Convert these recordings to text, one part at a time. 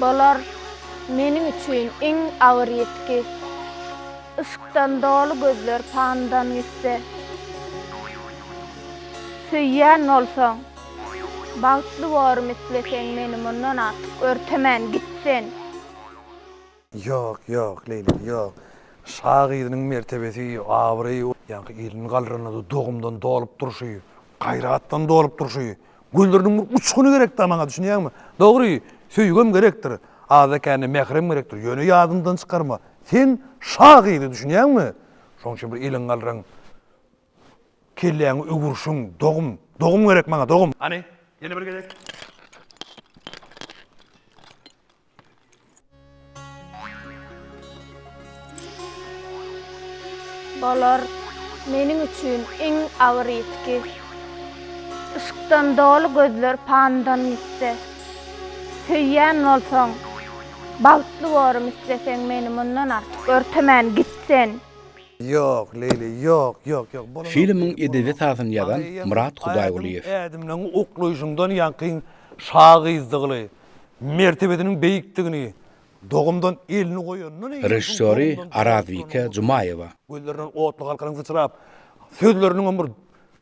Bolar meniň üçin iň agyr ýitgi, Yşkdan doly gözler pandan gitse. Söýýän bolsaň, bagtly borym isleseň, Meni mundan artyk örtemän git sen. Ýok, ýok, Leýli, ýok. Şa gyzynyň mertebesi, abraýy, ýaňky ilini galranynda dogumdan dolup durşy, gaýratdan dolup durşy, gözleriniň bir uçguny gerek-dä maňa, düşünýäňmi? Dogry, söýgem gerekdir, azda-kände mährem gerekdir, ýöne ýadyňdan çykarma, sen şa gyzy, düşünýäňmi? Şonuň üçin bir iliňi galraň, kelläňi öwürşiň, dogum, dogum gerek maňa, dogum! Hany, ýene bir gezek. Bolar meniň üçin iň agyr ýitgi. Yşkdan doly gözler pandan gitse. Söýýän bolsaň, bagtly borym isleseň meni mundan artyk örtemän git sen. Ýok, Leýli, ýok, ýok, ýok, bolanok. Filmiň edebi sazyny ýazan Myrat Hudaýgulyýew. Ädimleň uklaýşyňdan ýaňky şa gyzdygly, mertebesiniň beýikdigini dogumdan elini goýanyndan eýýäm Režissýory Arazbike Jumaýewa. Gözlerinden otly galkalyň syçrap, sözleriniňem bir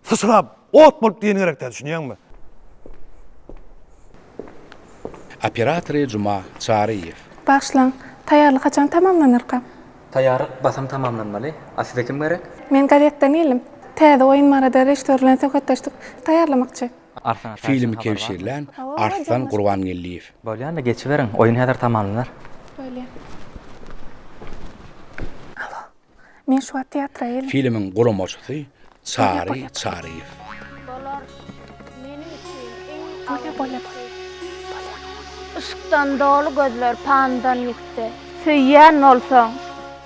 syçrap, ot bolup diýeni gerek däl, düşünýäňmi? Operatory Juma Çaryýew. Bagyşlaň, taýýarlyk haçan tamamlanarka? Taýýarlyk basym tamamlanmaly. A size kim gerek? Men gazetden geldim. Täze oýun barada režissýor bilen söhbetdeşlik taýýarlamakçy. Filmi kebşirlän Arslan Gurbangeldiýew. Bolýanda geçiberiň, oýun häzir tamamlanar. Bolýa. Alo. Men şu wagt teatra geldim. Filmiň guramaçysy Çary Çaryýew. Bolar. Meniň üçin iň Bolýa, bolýa, bolýa. Bolýa. Yşkdan doly gözler pandan ýitdi. Söýýän bolsaň.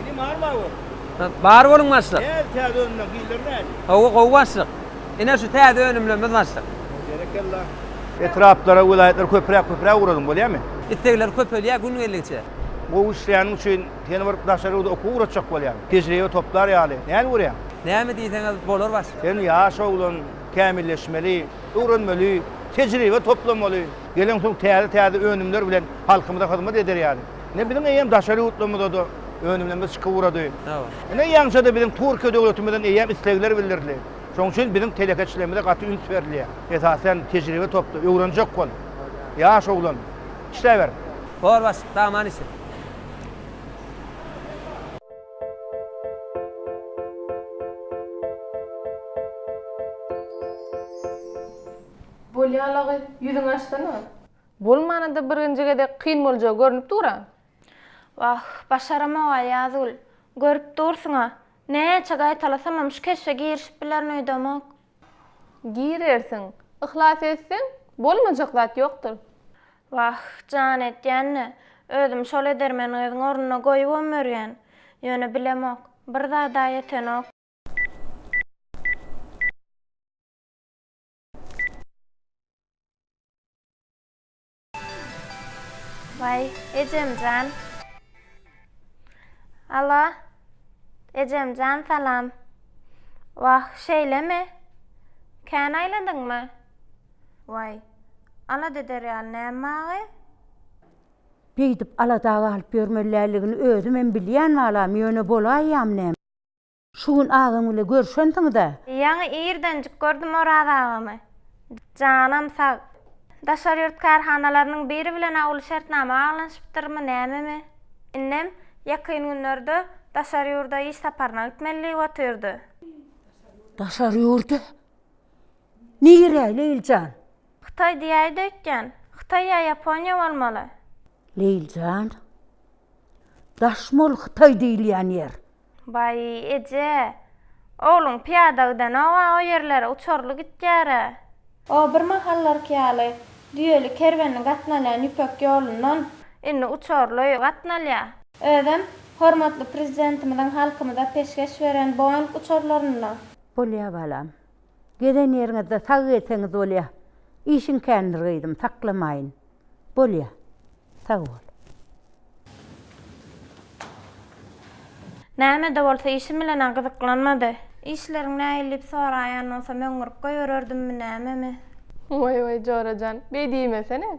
Indi bar bar bol. Bar boluň başlyk. Näz täze önümler hilleri näz. Gowy gowy başlyk. Ine şu täze önümlerimiz başlyk. Berekella. Etraplara welaýatlara köpräk köpräk ugradyň bolýamy. Islegler köpelýär gün geldigiçe. Gowy işleýäniň üçin seni bir daşary ýurda okuwa ugratjak bolýan. Tejribe toplar ýaly. Näme görýäň? Näme diýseňiz bolar başlyk. Sen ýaş oglan, kämilleşmeli, öwrenmeli, tejribe toplamaly. Geleňsoň täze täze önümler bilen halkymyza hyzmat eder ýaly. Ine biziň eýýäm daşary ýurtlarymyzada önümlerimiz çykyp ugrady. Hawa. Ine ýaňyja-da biziň Türkiýe döwletimizden eýýäm islegler bildirildi. Şonuň üçin biziň telekeçilerimize gaty üns berilýär. Esasan tejribe topla, öwrenjek bol. Ýaş oglan, işläber. Bor baş, daman işi. Bolýa lagy, ýüzüňi açsana. Bolmana-da birinji gezek kyn boljagy görnüp dur-a. Wah, başaramog-a, Ýazgül. Görüp dursuň-a. Näçe gaýtalasamam şu keşbe girişip bilerin öýdemok. Girersiň. Yhlas etseň, bolmajak zat ýokdur. Wah, jan edýän-de, özüm şol edermeni gyzyň ornuna goýubam ýörýän. Ýöne bilemok. Bir zad-a ýetenok. Vay Ecemcan. Alo. Ecemcan salam. Vah şeýlemi? Kän aýladyňmy? Vay. Alada eder ýaly näme maňa? Beýdip alada galyp ýörmeliligini özümem bilýän balam, ýöne bolaýýam näme? Şu gün agam bile görşensiňiz-ä? Ýaňy irdenjik gördüm Oraz agamy. Janam sag. Daşary ýurt kärhanalarynyň biri bilen awuly şertnama baglanyşypdyrmy, nämemi? Innem ýakyn günlerde daşary ýurda iş saparyna gitmeli diýip otyrdy. Daşary ýurda? Nirä, Leýlijan? Hytaý diýäýdi öýtýän. Hytaý ýa Ýaponiýa bolmaly. Leýli jan, daş mol hytaý diýilýän ýer. Baý eje, ogluň pyýada gidenoga o ýerlere uçurly gitýärä. O bir mahallarky ýaly düýeli kerwenli gatnalýan ýüpek ýolundan. Indi uçurly gatnalýa. Özem hormatly Prezidentimiziň halkymyza peşgeş beren Boeing uçurlarynda. Bolýa balam. Gezen ýeriňizde sag gezseňiz bolýa. Işiň kändir gyzym, saklamaýyn. Bolýa. Sag bol. Näme-de bolsa işim bilen-ä gyzyklanmady. Işleriň nähili diýip soraýan bolsam, öňňürip goýbererdimmi, nämemi? Waý-waý, Jora jan, beý diýmesene!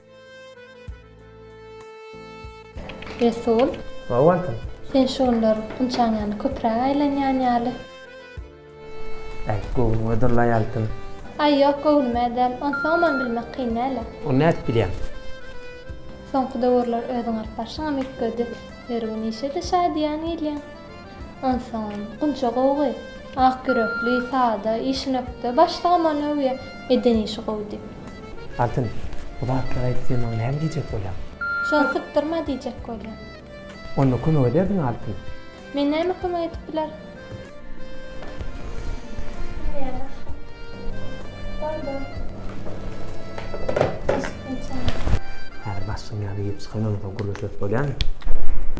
Resul. Hawa wagtym. Sen şu günler ynçaň ýaly köpräk aýlanýan ýaly. Äýt göwnüňe durlaý altyn. Aý ýok göwnüme däl. Onsoňam bilmek kyn däl-ä. Ony nädip bilýäň? Soňky döwürler özüň alyp barşyňam üýtgedi. Her gün işe-de şadyýan gelýäň. Ynsan, gunça gowgy. Ak ýürekli, sada, işinökde. Başlygam ony öwýä. Eden işi gowy diýip. Altyn, bu zatlary aýtdy maňa näme diýjek bolýaň? Şony sypdyrma diýjek bolýan. Onda kömek ederdiň Altyn. Men näme kömek edip bilerin? Bar, bar. Häzir başlygyň ýanyna girip çykan ondan soň gürleşeris bolýamy?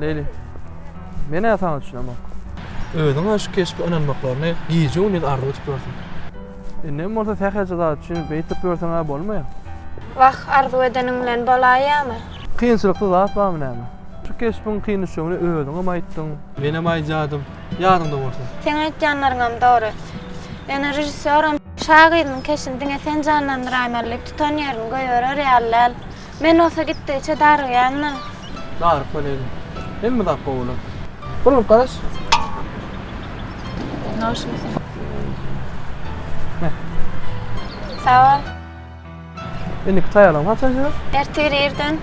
Leýli. Men-ä saňa düşünemok. Özüň-ä şu keşbe ynanmaklaryny gije-gündiz arzuw edip ýörsüň. Indem bolsa sähelçe zat üçin beýtip ýörseň-ä bolmaýar. Wah, arzuw edeniň bilen bolaýýamy? Kynçylykly zat barmy näme? Şu keşbiň kyn düşjegini özüňem aýtdyň. Menem aýdýardym, ýadyňda bolsa. Seň aýtýanlaryňam dogry. Ýöne režissýoram. Şagyryň keşini diňe sen janlandyraýmaly diýip tutan ýerini goýberer ýaly däl. Men bolsa gitdigiçe darygýan-da. Daryp boleli. Hemme zat gowy bolar. Bir urup garaş. Noşumy sen? Heh. Sag bol. Indiki taýýarlygyňy haçan edýäs? Ertir irden.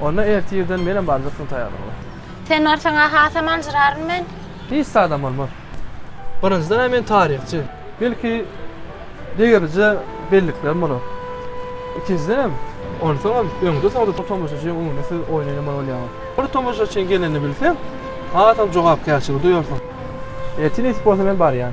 Onda ertir irden menem baryp dursun taýýarlygyma. Sen barsaň-a hasam aljyraryn men. Hiç zadam bolmaz. Birinjiden-ä men taryhçy. Belki, degerije belliklerim bolar. Ikinjidenem, onsoňam öňde-soňda bu tomaşaçynyň öňünde siz oýnaýamaly bolýaňyz. Bir tomaşaçyň gelenini bilseň, hasam jogapkärçiligi duýarsyň. Ertir nesip bolsa men barýan.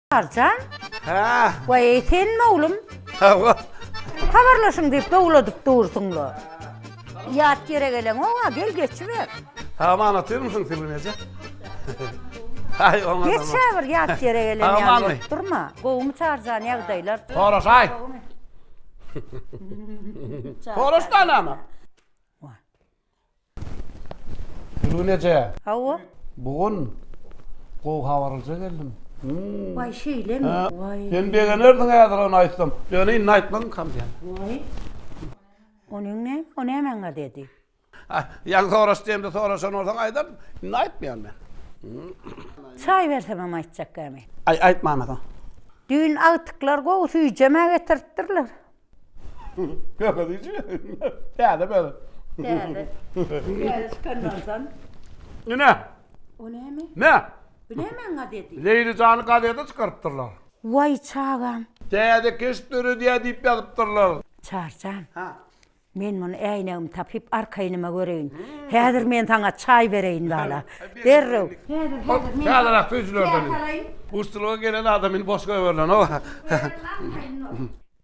Arjan? Hä? Waý, senmi oglum? Hawa. Habarlaşyň diýip dowladyp dursuň-la. Ýat ýere geleňow-a, gel geçiber. Saman otyrmysyň Sibir eje? Aý, oňa. Geç bir ýat ýere gelen ýaly. Samanmy? Durma. Gowumy Çarjan ýagdaýlar? Soraşaý. Soraş da anama. Gülgün eje. Hawa. Bu gün gowy habaryja geldim. Waý şeýlemi? Waý. Sen begenerdiň häzir ony aýtsam. Ýöne indi aýtmagyn kam diýen. Waý. Onyň ne? O näme aňa dedi? Ah, ýaňy soraş diýemde soraşan bolsaň aýdardym. Indi aýtmaýan men. Çaý bersemem aýtjak gämi. Aý, aýtmana soň. Düýn agtyklar gowy süýjemä getiripdirler. Ýöne diýji. Täze bäri. Täze. Täze çykanlardan. Ine. O näme? Ne? Bu nämeň gazeti? Leýli jany gazete çykarypdyrlar. Waý çagam. Täze keşp döredýär diýip ýazypdyrlar. Çarjan. Ha. Men muny äýnegimi tapyp arkaýnyma göreýin. Häzir men saňa çaý bereýin bala. Derrew. Häzir häzir men. Täzeräk süýjülerden. Guşçulyga gelen adam indi boş goýberilenoga.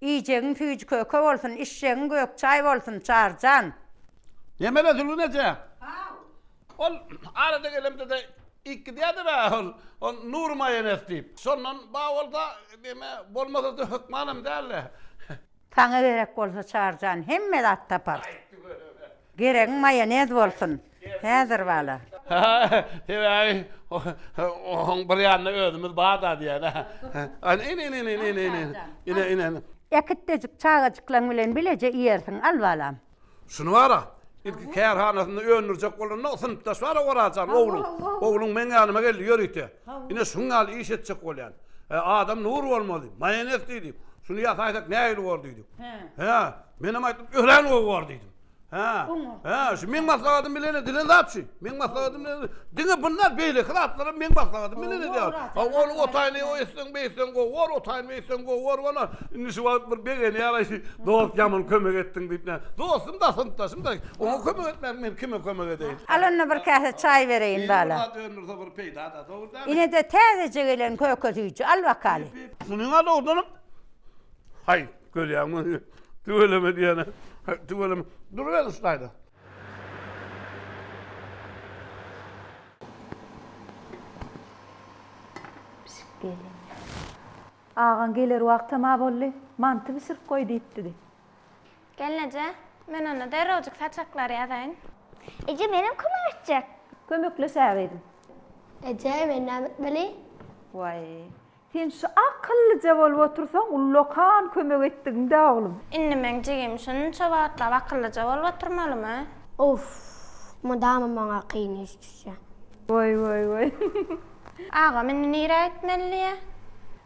Iýjegiň süýji köke bolsun, içjegiň gök çaý bolsun, Çary jan! Nemele Zülgün eje? Haw. Ol arada gelemde-de iýip-gidýärdi-le ol, ol Nury maýones diýip. Şondan bar bolsa, näme, bolmasa-da hökmanam däl-le. Saňa gerek bolsa, Çary jan, hemme zat taparys. Geregiň maýonez bolsun. Häzir bala. Sebäbi oň bir ýanynda özümiz bar-da diýýär. Ine-ine-ine-ine-ine-ine-ine. Äkitdejik çagajyklaň bilen bileje iýersiň, al balam. Şuny bar-a, ilki kärhanasynda öndürjek bolanda, synpdaş bar-a Orazjan, ogluň. Ogluň meň ýanyma geldi, Ýör ite. Ine şuň ýaly iş etjek bolýan. Adam nur bolmaly. Maýonez diýdi. Şuny ýasaýsak nähili bor diýdi. Hä, menem aýtdym, örän gowy bor diýdim. Hä. Hä, şu meň maslahatym bilen edilen zat şu. Meň maslahatym bilen. Diňe bundan beýleki zatlar hem meň maslahatym bilen edýär. Ha, ol otaýyny o etseň, bu etseň gowy bor, otaýyny bu etseň gowy bor bolar. Indi şu wagt bir begenýär-aý, şu dost ýaman kömek etdiň diýip näme. Dostum-da, synpdaşym-da. Oňa kömek etmäň, men kime kömek edeýin. Al onda bir käse çaý bereýin bala. Ýeri bir zat öndürse bir peýda-da, dogry dälmi? Ine-de täzeje gelen köke süýji, al bakaly. Munyň-a dogrudanam, haý. Görýäňmi? Tüweleme diýýän-ä. Tüweleme. Duruber üstaýda. Pişik gelin. Agaň geler wagtam-a boldy. Manty bişirip goý diýipdidi. Gelneje, men onda derrewjik saçaklary ýazaýyn. Eje, menem kömek etjek. Kömekleşäýeliň. Eje, men näme etmeli? Waý, Sen şu akyllyja bolup otursaň ullakan kömek etdigiňdä oglum. Indi meň jigim şunça wagtlap akyllyja bolup oturmalymy? Uff, mydama maňa kyn iş düşýä. Woý woý woý. Agam indi nirä gitmelidiýä?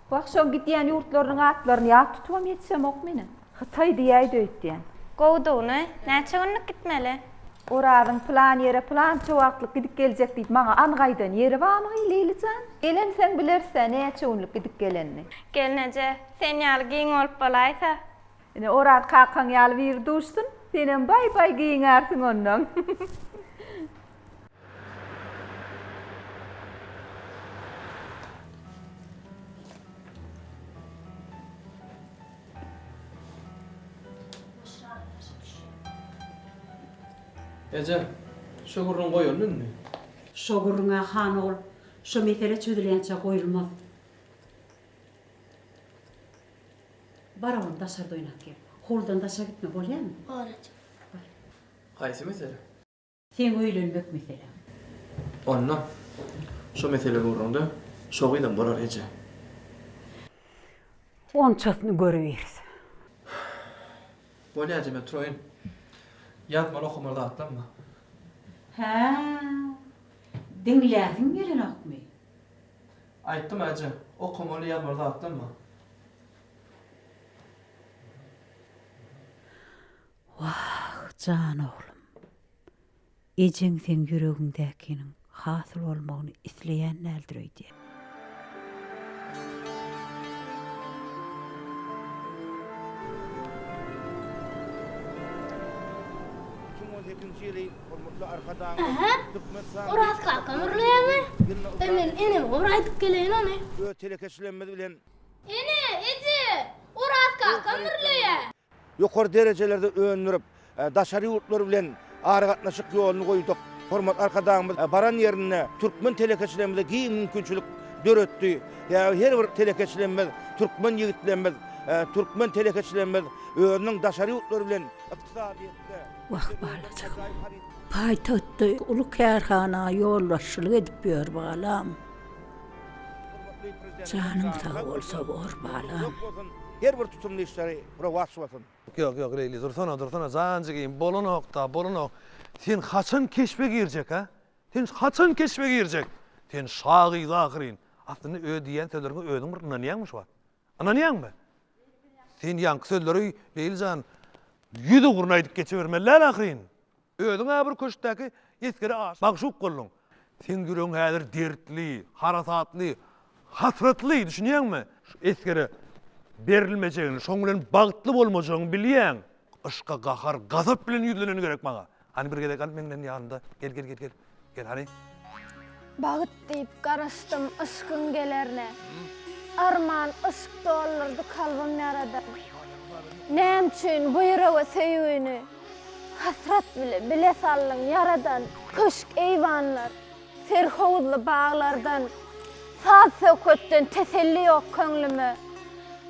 Wah şoň gidýän ýurtlarynyň atlaryny ýat tutubam ýetişemok menem. Hytaý diýäýdi öýtýän. Gowudygyny, näçe günlük gitmeli? Orazyň pylan ýere pylança wagtlyk gidip geljek diýip maňa anyk aýdan ýeri barmy, Leýli jan? Gelenseň bileris-ä, näçe günlük gidip gelenini. Gelneje, sen ýaly giň bolup bolaýsa. Ine, Oraz kakaň ýaly biri duşsun, senem baý-baý giňärsiň onnoň. Eje, şo gürrüň goýaldy indi. Şo gürrüň-ä, han ogul, şo mesele çözülýänçä goýulmaz. Bar oglum, daşarda oýnap gel. Howludan daşa gitme, bolýamy? Bor eje. Haýsy mesele? Seň öýlenmek meseleň. Onda şo mesele ugrunda şogyzam bolar eje. Onçasyny görübiris. Bolýar eje men turaýyn. Ýazmaly okamaly zatlam bar. Hä. Diňläsiň gelenokmy? Aýtdym eje, okamaly ýazmaly zatlam bar. Wah, jan oglum! Ejeň seň ýüregiňdäkiniň hasyl bolmagyny isleýän däldir öýdýän. Iki müň on sekizinji ýyly hormatly Arkadagymyz Türkmenistanyň Oraz kakam urlaýarmy? Ýa men eneme bir aýdyp geleýin ony. Öz telekeçiligimiz bilen. Ene, eje! Oraz kakam urlaýar. Ýokary derejelerde öndürip, daşary ýurtlar bilen aragatnaşyk ýoluny goýduk. Hormatly Arkadagymyz baran ýerinde türkmen telekeçilerimize giň mümkinçilik döretdi. Sebäbi her bir telekeçilerimiz, türkmen ýigitlerimiz, türkmen telekeçilerimiz özüniň daşary ýurtlar bilen ykdysadyýetde, Wah, balajygym. Paýtagtda uly kärhana ýolbaşçylyk edip ýör, balam. Hormatly Prezidentimiz Janyň sag bolsa bor balam. Her bir tutumly işleri rowaç bolsun. Ýok ýok Leýli dursana dursana jan jigim bolanokda bolanok sen haçan keşbe girjek ha sen haçan keşbe girjek sen şa gyz ahyryn aslynda öz diýýän sözleriňe özüň bir ynanýaňmy şu wagt ynanýaňmy sen ýaňky sözleri Leýli jan ýüz ugruna aýdyp geçibermeli däl ahyryn Özüň-ä bir köşkdäki esgere magşuk bolduň. Seň ýüregiň häzir dertli, harasatly, hasratly, düşünýäňmi? Şu esgere berilmejegini, şoň bilen bagtly bolmajagyňy bilýäň. Yşka gahar, gazap bilen ýüzleneni gerek maňa. Hany bir gezek al meňden ýanynda, gel, gel, gel, gel. Gel hany. Bagt diýip garaşdym yşkyň gelerine. Arman yşk doldurdy kalbym ýaradan. Näme üçin bu ýürege söýgini hasrat bile bile saldyň ýaradan. Köşk eýwanlar, serhowuzly baglardan, saz-söhbetden teselli ýok köňlüme.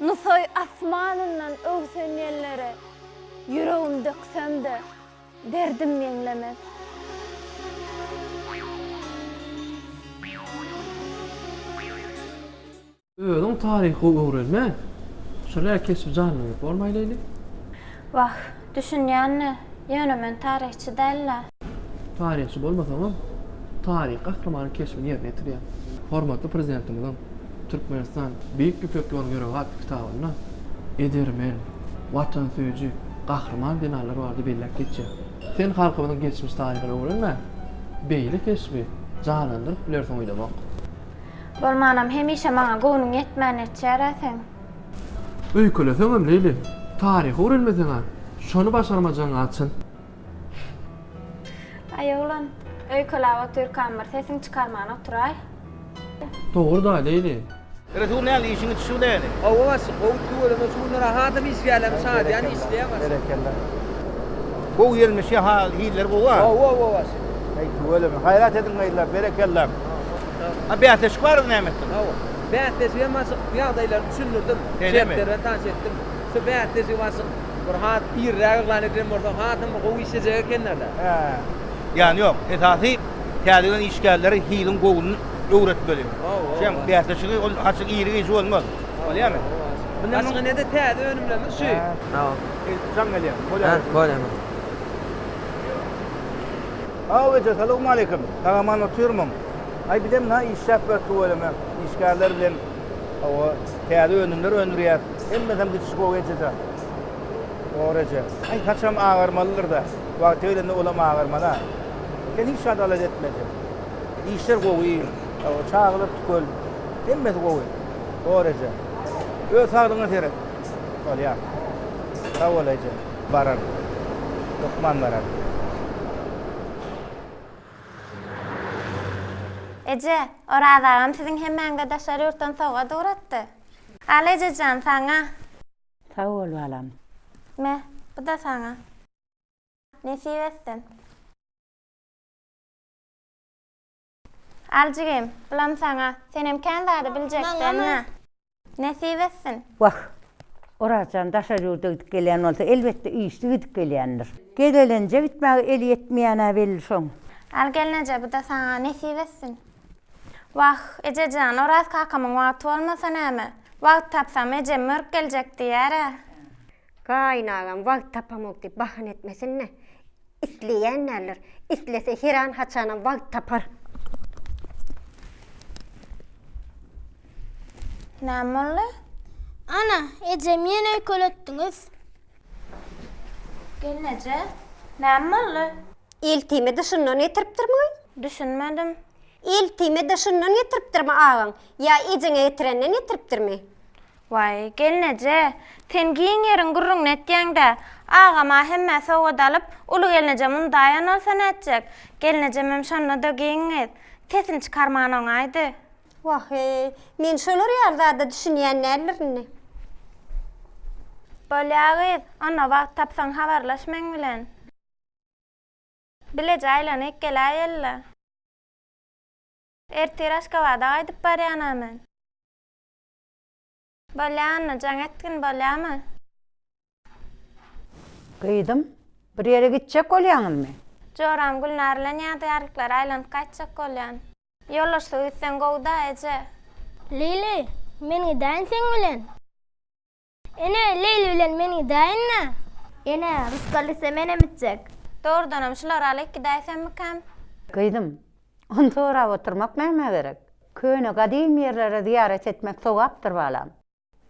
Nusaý asmanyndan öwsen ýellere, ýüregim döksem-de, Derdim meňlemez. Özüň taryhy gowy öwrenme. Şular keşbi janlandyryp bolmaý Leýli. Wah, düşünýän-le, ýöne men taryhçy däl-le. Taryhçy bolmasaňam, taryh gahrymanyň keşbini ýerine ýetirýäň. Hormatly Prezidentimiziň. Türkmenistan, Beýik Ýüpek ýoly ýörügi atly kitabynda edermen, watansöýüji, gahryman zenanlar barada belläp geçýär. Sen halkymyzyň geçmiş taryhyny öwrenmän, beýle keşbi janlandyryp bilersiň oýlamok. Bolmanam hemişe maňa göwnüň ýetmän netjär-ä seň. Öýkeleseňem, Leýli, taryhy öwrenmeseň-ä, şony başarmajagyň-a çyn. Aý oglan, öýkelap otyrkam bir sesiň çykarman oturaý. Dogry-da, Leýli. Resul näme işiň it şu leýli. Hawa başlyk gowy tüweleme şu günler ahadam iş gelem şadyýan işleýän başlyk. Berekella. Gowy gelmiş ýa-ha hilleri gowy a. Gowy gowy başlyk. Heý tüweleme gaýrat ediň gyzlar berekella. A bäsleşik bardy näme etdiň. Hawa bäsleşigem başlyk ýagdaýlary düşündirdim. Şeýlemi. Şertleri bilen tanyş etdim. Şu bäsleşigi başyk bir has irräk yglan edilen bolsa hasam bir gowy işlejek ekenlerle. Hä. Ýan ýok. Esasy täze gelen işgärleri hiliň gowuny öwretmeli. Şem bäsleşigi ol açyk iri gijä bolmaz. Bolýamy? Başga nede täze önümlerimiz şu. Sag ol. Jaň gelýär. Bolýar. Bolýar. Saw eje salowmaleýkim. Sag-aman otyrmyň? Aý bizem na işläp ýör tüweleme işgärler bilen. Hawa, täze önümler öndürýäs. Hemmesem düşüş gowy ejejan. Dogry eje. Aý, saçam agarmalydyr-da. Wagty gelende olam agarman-a. Sen hiç zat alada etme eje. Işler gowy. Hawa, çagalar tükel. Hemmesi gowy. Dogry eje. Öz saglygyňa seret. Bolýar. Sag bol eje. Bararyn. Hökman bararyn. Eje, Oraz agam siziň hemmäňize daşary ýurtdan sowgat ugratdy. Al ejejan, saňa. Sag bol balam. Me, bu-da saňa. Nesip etsin. Al jigim, bulam saňa. Senem kän zady biljekdäň-ä. Nesip etsin! Wah! Orazjan daşary ýurda gidip gelýän bolsa, elbetde, işli gidip gelýändir. Gezelenje gitmäge eli ýetmeýän-ä belli şoň. Al gelneje, bu-da saňa nesip etsin! Wah, eje jan, Oraz kakamyň wagty bolmasa näme? Wagt tapsam, ejem mörk geljek diýýär-ä. Gaýynagam wagt tapamok diýip bahana etmesin-le. Isleýän däldir. Islese heran haçanam wagt tapar. Näme boldy? Ana, ejem ýene öýkeletdiňiz. Gelneje, näme boldy? Eltime dyşyndan getiripdirmi? Düşünmedim. Eltime dyşyndan getiripdirmi agaň? Ýa ejeňe getirenden getiripdirmi? Waý, gelneje, sen giň ýeriň gürrüňini etýäň-dä. Agam-a hemmä sowgat alyp, uly gelneje mundaýan bolsa nätjek? Gelnejemem şonda-da giň gyz. Sesini çykarman oňaýdy. Wah-eý, men şolar ýaly zada düşünýän däldir indi. Bolýa gyz, onda wagt tapsaň habarlaş meň bilen. Bileje aýlanyp geläýeli-le. Ertir Aşgabada gaýdyp barýan-a men. Bolýamy, jaň etgin bolýamy? Gyzym, bir ýere gitjek bolýaňyzmy? Joram Gülnar bilen ýadygärliklere aýlanyp gaýtjak bolýan. Ýoldaşlyk etseň gowy-da, eje. Leýli, men gidäýin seň bilen. Ene, Leýli bilen men gidäýin-dä. Ene, rysgal etse menem gitjek. Dogrudanam şulary alyp gidäýsemmikäm? Gyzym, Ony sorap oturmak nämä gerek? Köne gadymy ýerlere zyýarat etmek sogapdyr balam.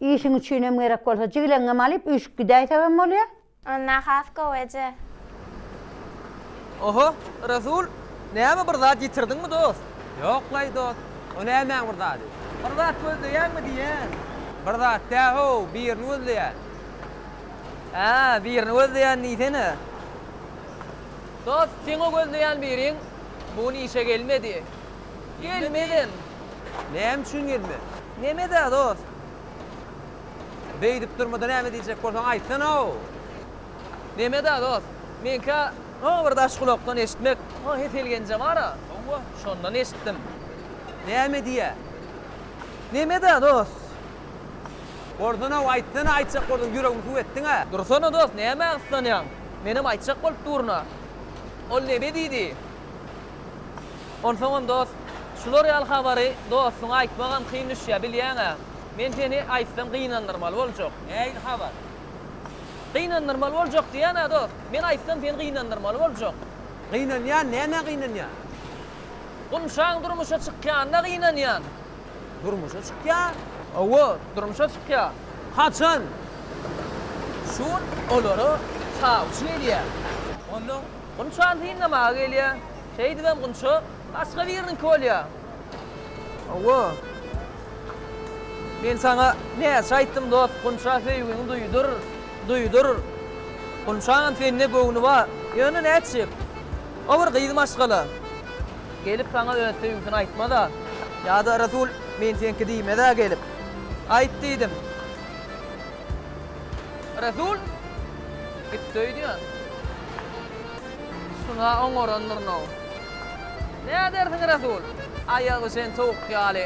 Işiň üçinem gerek bolsa jigleňňem alyp üýşüp gidäýsegem bolýa. Onda has gowy eje. Oho, Rasul, näme bir zat ýitirdiňmi dost? Ýoklaý dost, o nämäň bir zady? Bir zat gözleýäňmi diýýän. Bir zat dä-how, birini gözleýän. Hä, birini gözleýän diýsene. Dost, seň o gözleýän biriň Bu gün işe gelmedi. Gelmedin. Näme üçin gelmedi? Nemede dost? Beýdip durmada näme diýjek bolsaň aýtsana-ow. Nemede dost? Meňkä o bir daş gulakdan eşitmek, o Hesel Genje bar-a, şondan eşitdim. Näme diýýä? Nemede dost? Bolsana-ow, aýtsana aýtjak bolsaň, ýüregimi suw etdiň-ä. Dursana dost, nämä gyssanýaň? Menem aýtjak bolup durun-a. Ol nebe diýdi? Onsoňam dost, şular ýaly habary dostuňa aýtmagam kyn düşýär, bilýäň-ä. Men seni aýtsam gynandyrmaly boljak. Nähili habar? Gynandyrmaly boljak diýýän-ä dost. Men aýtsam seni gynandyrmaly boljak. Gynanýan, nämä gynanýan? Gumşaň durmuşa çykýanyna gynanýan. Durmuşa çykýar? Hawa, durmuşa çykýar. Haçan? Şu gün olara çawçy gelýär. Onda? Gunçany synlamaga gelýär. Şeýdibem Gunça başga biriniňki bolýar. Hawa. Men saňa näçe aýtdym, dost, Gunça söýgiňi duýdur, duýdur. Gunçaňam sende göwni bar. Ýöne nätjek? O bir gyz maşgala. Gelip saňa öz söýgüsini aýtmaz-a. Ýa-da Resul men seňki diýmez-ä gelip. Aýt diýdim. Resul gitdi öýdýän. Şuna oňarandyryn-ow. Nädersiň Resul? Aýagy şen towuk ýaly.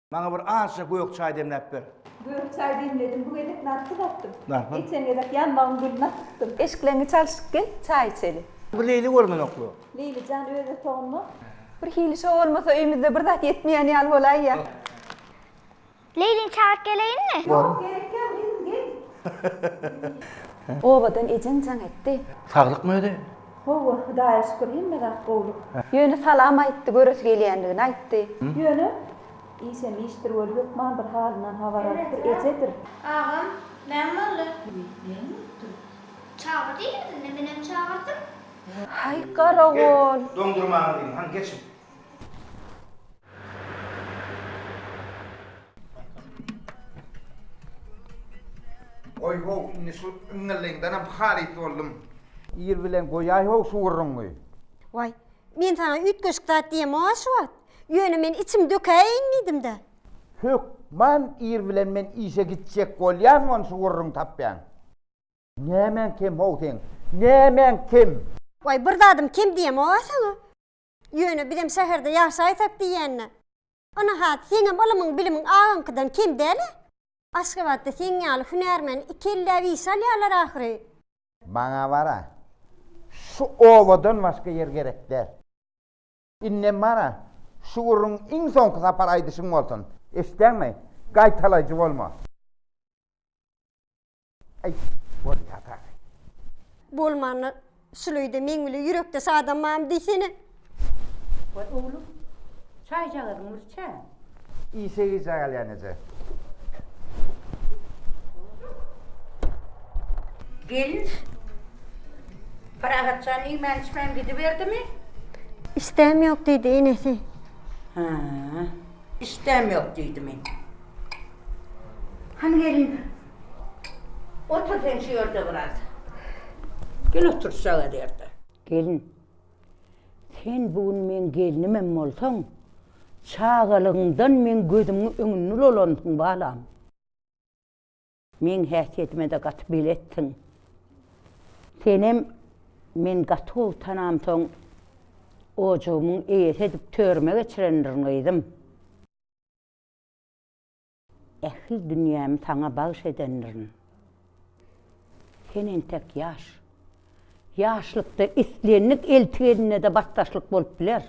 Maňa bir azja gök çaý demläp ber. Gök çaý demledim, bu gezek narpy datdym. Narpy? Geçen gezek ýanbagym gülüni akytdym. Eşikleňi çalşyp gel, çaý içeli. Bu Leýli görmenoklu. Leýli jan öz otagyňda. Bir hili şo bolmasa öýümizde bir zat ýetmeýän ýaly bolaýýa. Leýlini çagyryp geleýinmi? Ýok, gerek ýok, özüň gel. Obadan ejeň jaň etdi. Saglykmy özi? Howwa Hudaýa şükür hemme zat gowluk. Ýöne salam aýtdy göresi gelýändigini aýtdy. Ýöne işem işdir welin hökman bir halyndan habar alypdyr ejedir. Agam näme boldy. Näme bolupdyr. Çagyr diýýärdi indi menem çagyrdym. Haý garagol. Doňdurmaňyz iň han geçiň. Oý-how, indi şu yňňyllyňdanam halys boldum. Ir bilen goýaý-how şu gürrüňi. Waý, men saňa üýtgeşik zat diýemok-a şu wagt. Ýöne men içimi dökäýeýin diýdim-dä. Hökman ir bilen men işe gitjek bolýan ony şu gürrüňi tapýan. Nämäň kem-how seň? Nämäň kem? Waý, bir zadym kem diýemok-a saňa. Ýöne bizem şäherde ýaşaýsak diýýän-dä. Ynahat, seňem ylymyň-bilimiň agaňkydan kem däl-ä? Aşgabatda seň ýaly hünärmeni iki elläp işe alýarlar ahyry. Maňa bar-a, şu obadan başga ýer gerek däl. Indem bar-a, şu gürrüň iň soňky sapar aýdyşyň bolsun, eşitdäňmi? Gaýtalaýjy bolma. Aý, bolýar dagy. Bolmanda, şuleýde meň bile ýürekdeş adamam diýsene. Waý, oglum, çaýjagazyň bir çä. Işe gijä galýan eje. Gelin, Parahat jan iýmän-içmän gidiberdimi? Işdäm ýok diýdi, enesi. Hä, işdäm ýok diýdimi? Hany gelin, Otur sen şu ýerde biraz. Gel otur şu aga ýerde. Gelin, sen bu gün meň gelnimem bolsaň, çagalygyňdan meň gözümiň öňünde dolandyň balam. Meň häsiýetime-de gaty beletdiň. Senem men gaty gowy tanamsoň, ojagymyň eýesi edip törüme geçirendirin gyzym. Ähli dünýämi saňa bagyş edendirin. Sen entek ýaş. Ýaşlykda islendik elti eline-de batdaşlyk bolup biler.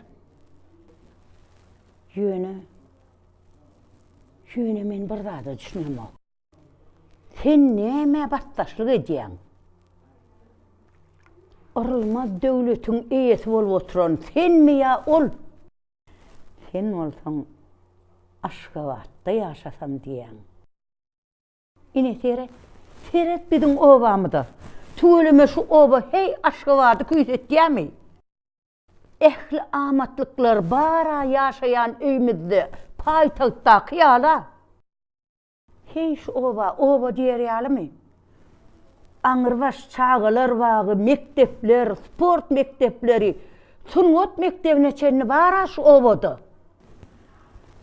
Ýöne, ýöne men bir zada düşünemok. Sen nämä batdaşlyk edýäň? Yrylmaz döwletiň eýesi bolup oturan senmi ýa ol? Sen bolsaň Aşgabatda ýaşasam diýýäň. Ine seret, seret biziň obamyza. Tüweleme şu oba heý Aşgabady küýsetýärmi? Ähli amatlyklar bar-a ýaşaýan öýümizde, paýtagtdaky ýala. Heý, şu oba oba diýer ýalymy? Aňrybaş çagalar bagy, mekdepler, sport mekdepleri, sungat mekdebine çenli bar-a şu obada.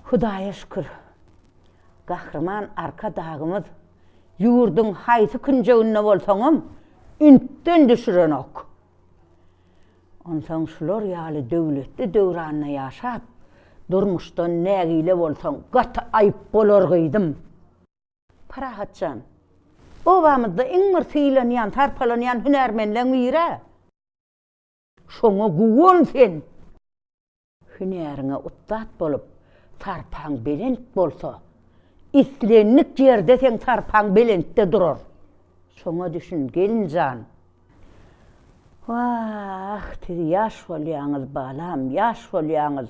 Hudaýa şükür, Gahryman Arkadagymyz ýurduň haýsy künjeginde bolsaňam ünsden düşürenok. Onsoň şular ýaly döwletli döwranda ýaşap, durmuşdan nägile bolsaň, gaty aýyp bolar gyzym. Parahat jan, obamyzda iň bir sylanýan, sarpalanýan hünärmenleň biri-ä. Şoňa guwan sen! Hünäriňe ussat bolup, sarpaň belent bolsa, islendik ýerde seň sarpaň belentde durar. Şoňa düşün, gelin jan! Wah, siz ýaş bolýaňyz, balam, ýaş bolýaňyz!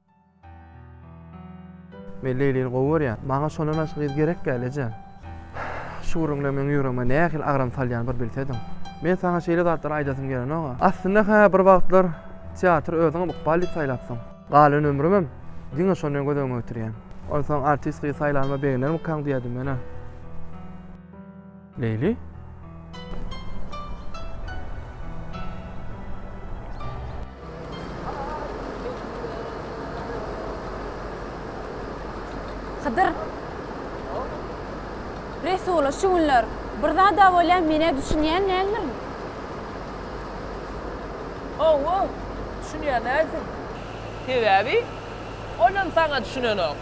Men Leýlini gowy görýän. Maňa şondan başga gyz gerek däl, eje. Şu gürrüňler meň ýüregime nähili agram salýan bir bilsediň. Men saňa şeýle zatlary aýdasym gelenok-a. Aslynda, hä, bir wagtlar teatry özüňem ykbal diýip saýlapsyň. Galan ömrümem diňe şony göz öňüne getirýän. Onsoň artist gyz saýlanyma begenermikaň diýýärdim men-ä. Leýli. Hydyr. Resula şu günler bir zada bolýan menä düşünýän näme? Owo, düşünýän näme? Sebäbi olam saňa düşünenok.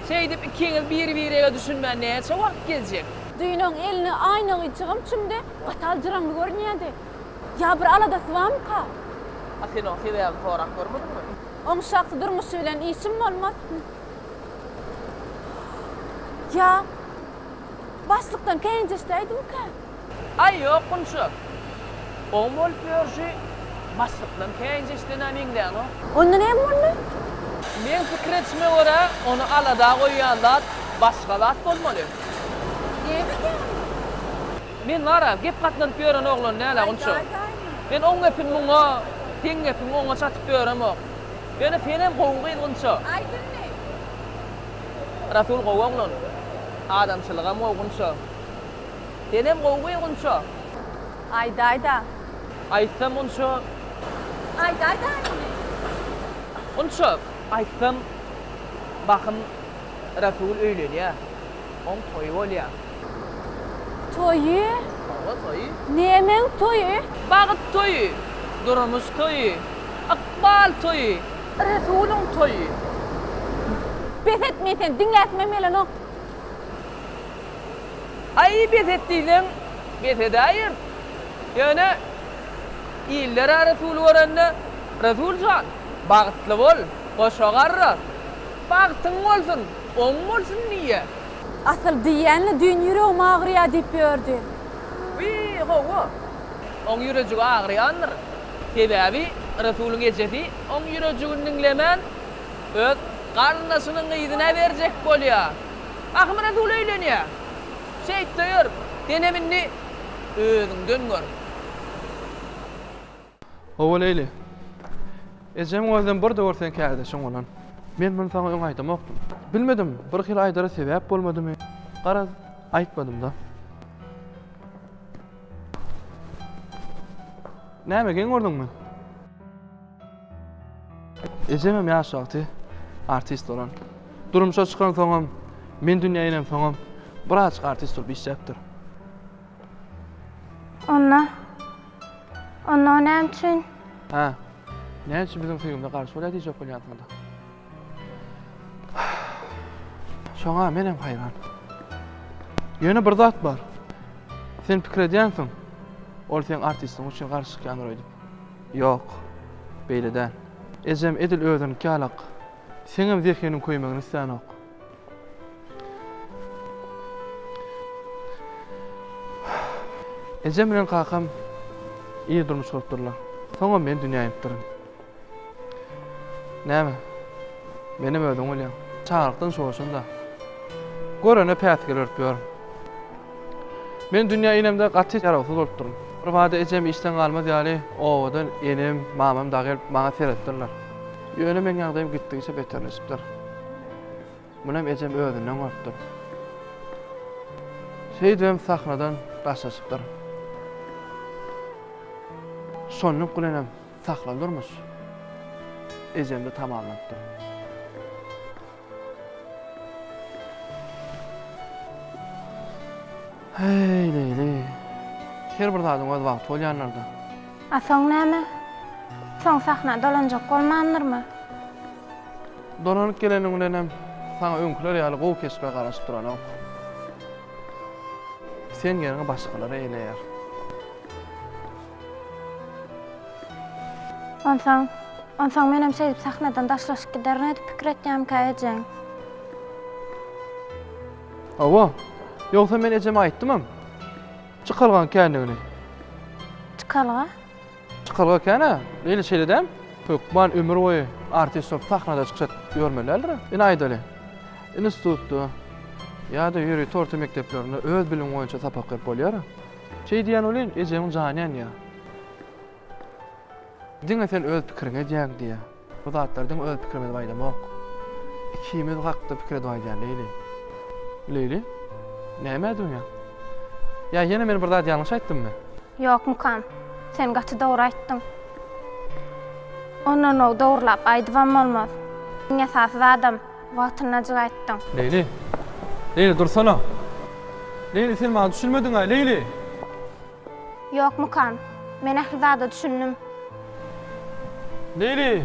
Şeýdip ikiňiz bir-birege düşünmän näçe wagt gezjek? Düýnoň elini aýna gyýçygam çümdi, gatal jyraňly görünýärdi. Ýa bir aladasy barmyka? A sen oň sebäbini sorap görmediňmi? Oň şahsy durmuşy bilen işim bolmaz. Ýa başlykdan känjeşdäýdimikä? Aý, ýok, Gunça. Oň bolup ýörşi başlykdan käýinç eşidenä meňzänok. Onda näme boldy? Meň pikir edişime görä, ony alada goýýan zat başga zat bolmaly. Näme eken? Men bar-a, gep gatlanyp ýören oglan däl-ä onça. Men oň gepini muňa, seň gepiňi oňa çatyp ýöremok. Ýöne senem gowy gyz Gunça. Aýt indi! Rasul gowy oglan. Adamçylygam gowy Gunça. Senem gowy we Gunço. Aýdaýda. Aýtsam Gunço. Aýdaýda indi. Gunço. Aýtsam bahym Rasul öýlenýä. Oň toýy bolýa. Toýy. Hawa toýy. Nemeň toýy? Bagyt toýy. Durmuş toýy. Ykbal toýy. Rasulyň toýy. Bes et men seni diňläsimem gelenok. Aý, bes et diýseň, bes edäýer. Ýöne illere resul görende, Resul jan, bagtly bol, goşa garra, bagtyň bolsun, oň bolsun diýýär. Asyl diýýän-le, düýn ýüregim agyrýar diýip ýördi. Wiý, hawa, oň ýürejigi agyrýandyr. Sebäbi Resulyň ejesi oň ýürejigini diňlemän, öz garyndaşynyň gyzyna berjek bolýar. Ahmyrazul öýlenýär. Şeýt döýer. Denem indi özüňden gör. Hawa, Leýli. Ejeň özem bir döwür seň kärdeşiň bolan. Men muny saňa öň aýdamokdym. Bilmedim, birhili aýdara sebäp bolmadymy, garaz, aýtmadym-da. Näme, geň gördüňmi? Ejemem ýaş wagty artist bolan. Durmuşa çykansoňam, men dünýä inemsoňam birazajyk artist bolup işläpdir. Onda, onda o näme üçin? Hä, näme üçin biziň söýgimize garşy bolýar diýjek bolýansyňda? Şoňa menem haýran. Ýöne bir zat bar. Sen pikir edýänsiň, ol seň artistiň üçin garşy çykýandyr öýdüp. Ýok, beýle däl. Ejem edil özüniňki ýalak. Seňem zehiniň köýmegini islänok. Ejem bilen kakam ir durmuş gurup durlar. Soňam men dünýä inipdirin. Näme, menem özüň bolýaň. Çagalykdan şoşun-da. Görene päsgel örüp ýörün. Men dünýä inemde gaty ýarawsyz bolupdyryn. Birbada ejem işden galmaz ýaly obadan enem, mamam dagy gelip maňa seretdirler. Ýöne meň ýagdaýym gitdigiçe beterleşipdir. Munem ejem özünden gorkupdyr. Şeýdibem sahnadan daşlaşypdyr. Şonluk bilenem sahna durmuş ejemde tamamlanypdyr. Heý, leýli. Her bir zadyň öz wagty bolýanlardy. A soň näme? Soň sahna dolanjak bolmandyrmy? Dolanyp geleniň bilenem saňa öňküler ýaly gowy keşbe garaşyp duranok. Sen ýeriňi başgalar eýleýär. Onsoň, onsoň menem şeýdip sahnadan daşlaşyp giderin edip pikir etýämkä ejeň? Hawa, ýogsa men ejeme aýtdymam. Çykalgaň kändigini. Çykalga? Çykalga ekena eýle şeýle däm. Hökman ömür boýy artist bolup sahnada çykyş edip ýörmeli däldir. Ine aýdaly. Institutda ýa-da ýörite orta mekdeplerinde öz bilimiň boýunça sapak berip bolýar. Şeý diýýän welin, ejeňiň jany ýanýar. Diňe sen öz pikiriňi edýäň diýýär. Bu zatlardan öz pikirimizi baýdamok. Ikimiz hakda pikir edip aýdýan Leýli. Leýli, näme edýänsiň? Ýa ýene men bir zat ýalňyş aýtdymmy? Ýok mukam. Sen gaty dogry aýtdyň. Ondanw dogrylap aýdybam bolmaz. Iň esasy zadam wagtyndajyk aýtdyň. Leýli. Leýli dursana. Leýli sen maňa düşünmediňaý Leýli. Ýokmykan? Men ähli zada düşündim. Neýli?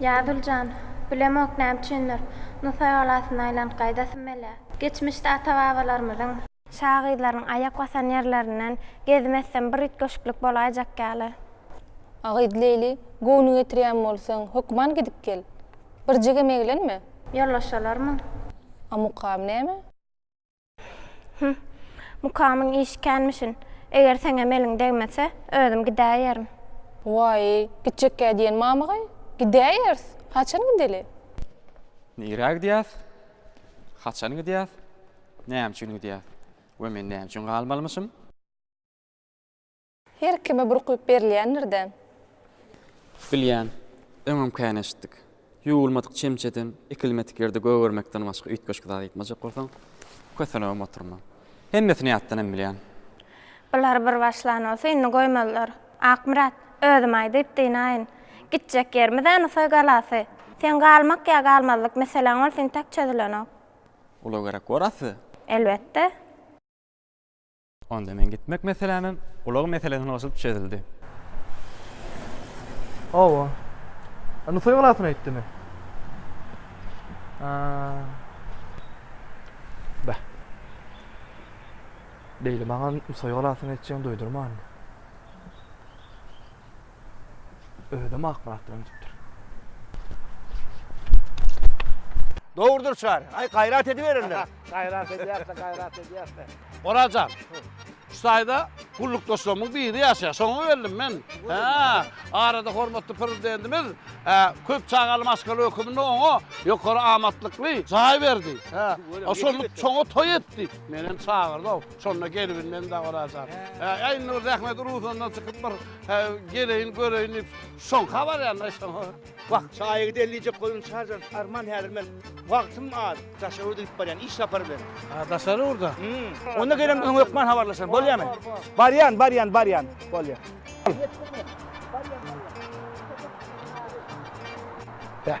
Ýazul jan, bilemok näme üçindir, Nusaý galasyna aýlanyp gaýdasym gelýär. Geçmişde ata-babalarymyzyň. Şagyzlaryň aýak basan ýerlerinden gezim etsem bir üýtgeşiklik bolaýjak ýaly. A gyz Leýli, göwnüňi getirýän bolsaň, hökman gidip gel. Birjigem eglenme. Ýollaşalarmyň? A mukam näme? Hüh, mukamyň işi känmişin. Eger seňem eliň degmese, özüm gidäýerin. Waý, gitjekkä diýen mamygaý? Gidäýeris. Haçan gideli? Nirä gidýäs? Haçan gidýäs? Näme üçin gidýäs? We men näme üçin galmalymyşym? Her kime burkulyp berilýändir-dä. Bilýän, öňem kän eşitdik. Ýuwulmadyk çemçeden, ekilmedik ýerde gögermekden başga üýtgeşik zat aýtmajak bolsaň, kösenibem oturma. Hemmesini ýatdanam bilýän. Bular bir başlan bolsa, indi goýmazlar. Akmyrat, özüm aýdyp dynaýyn. Gitjek ýerimiz-ä Nusaý galasy. Seň galmak ýa galmazlyk meseläň ol entek çözülenok. Ula gerek bor asly. Elbetde. Onda men gitmek meselämem ulag meselesine goşulyp çözüldi. Hawa. Indi toý galasyna gitdimi? Bah. Beýle maňa toý galasyna gitjegini duýdurmandy. Özüm Akmyrat bilen gidipdir. Dogrudyr çary. Aý gaýrat ediberiň. Gaýrat edýäs-le, gaýrat edýäs-le. Oraz jan, şu taýda gullukdaşlarymyň biri ýaşaýar. Şoňa geldim men. Hä, arada hormatly Prezidentimiz köp çagaly maşgala höküminde oňa ýokary amatlykly jaý berdi. Hä, şonda çoňa toý etdik. Menem çagyrdy-ow. Şonda gelibin men-de Oraz jan. Hä, indi bir zähmet uruzyndan çykyp bir geleýin, göreýin diýip, şoňka barýan-da şoňa. Wah, çaýa gideýin diýjek boldum, Çarjan, arman häzir men wagtym az, daşary ýurda gidip barýan, iş sapary bilen. Ha, daşary ýurda? Hum. Onda gelem öň hökman habarlaşan, bolýamy? Barýan, barýan, barýan, bolýar. Barýan, barýan. Heh.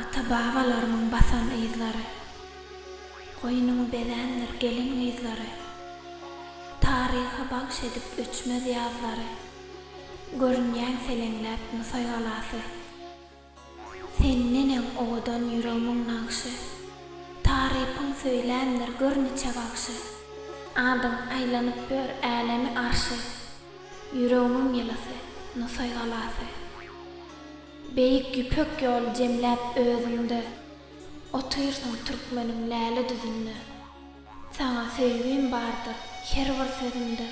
Ata-babalarymyň basan yzlary. Goýnuň bezändir gelin-gyzlary. Taryha bagş edip öçmez ýazlary. Görünýäň seleňläp Nusaý galasy. Sen neneň owadan ýüregmiň nagşy, Tarypyň söýlämdir gör niçe bagşy. Adyň aýlanyp ör älemi arşy, Ýüregmiň ýylysy, Nusaý galasy. Beýik Ýüpek ýoly jemläp özüňde, Otyrsyň türkmeniň läle düzünde. Saňa söýgim bardyr her bir sözümde,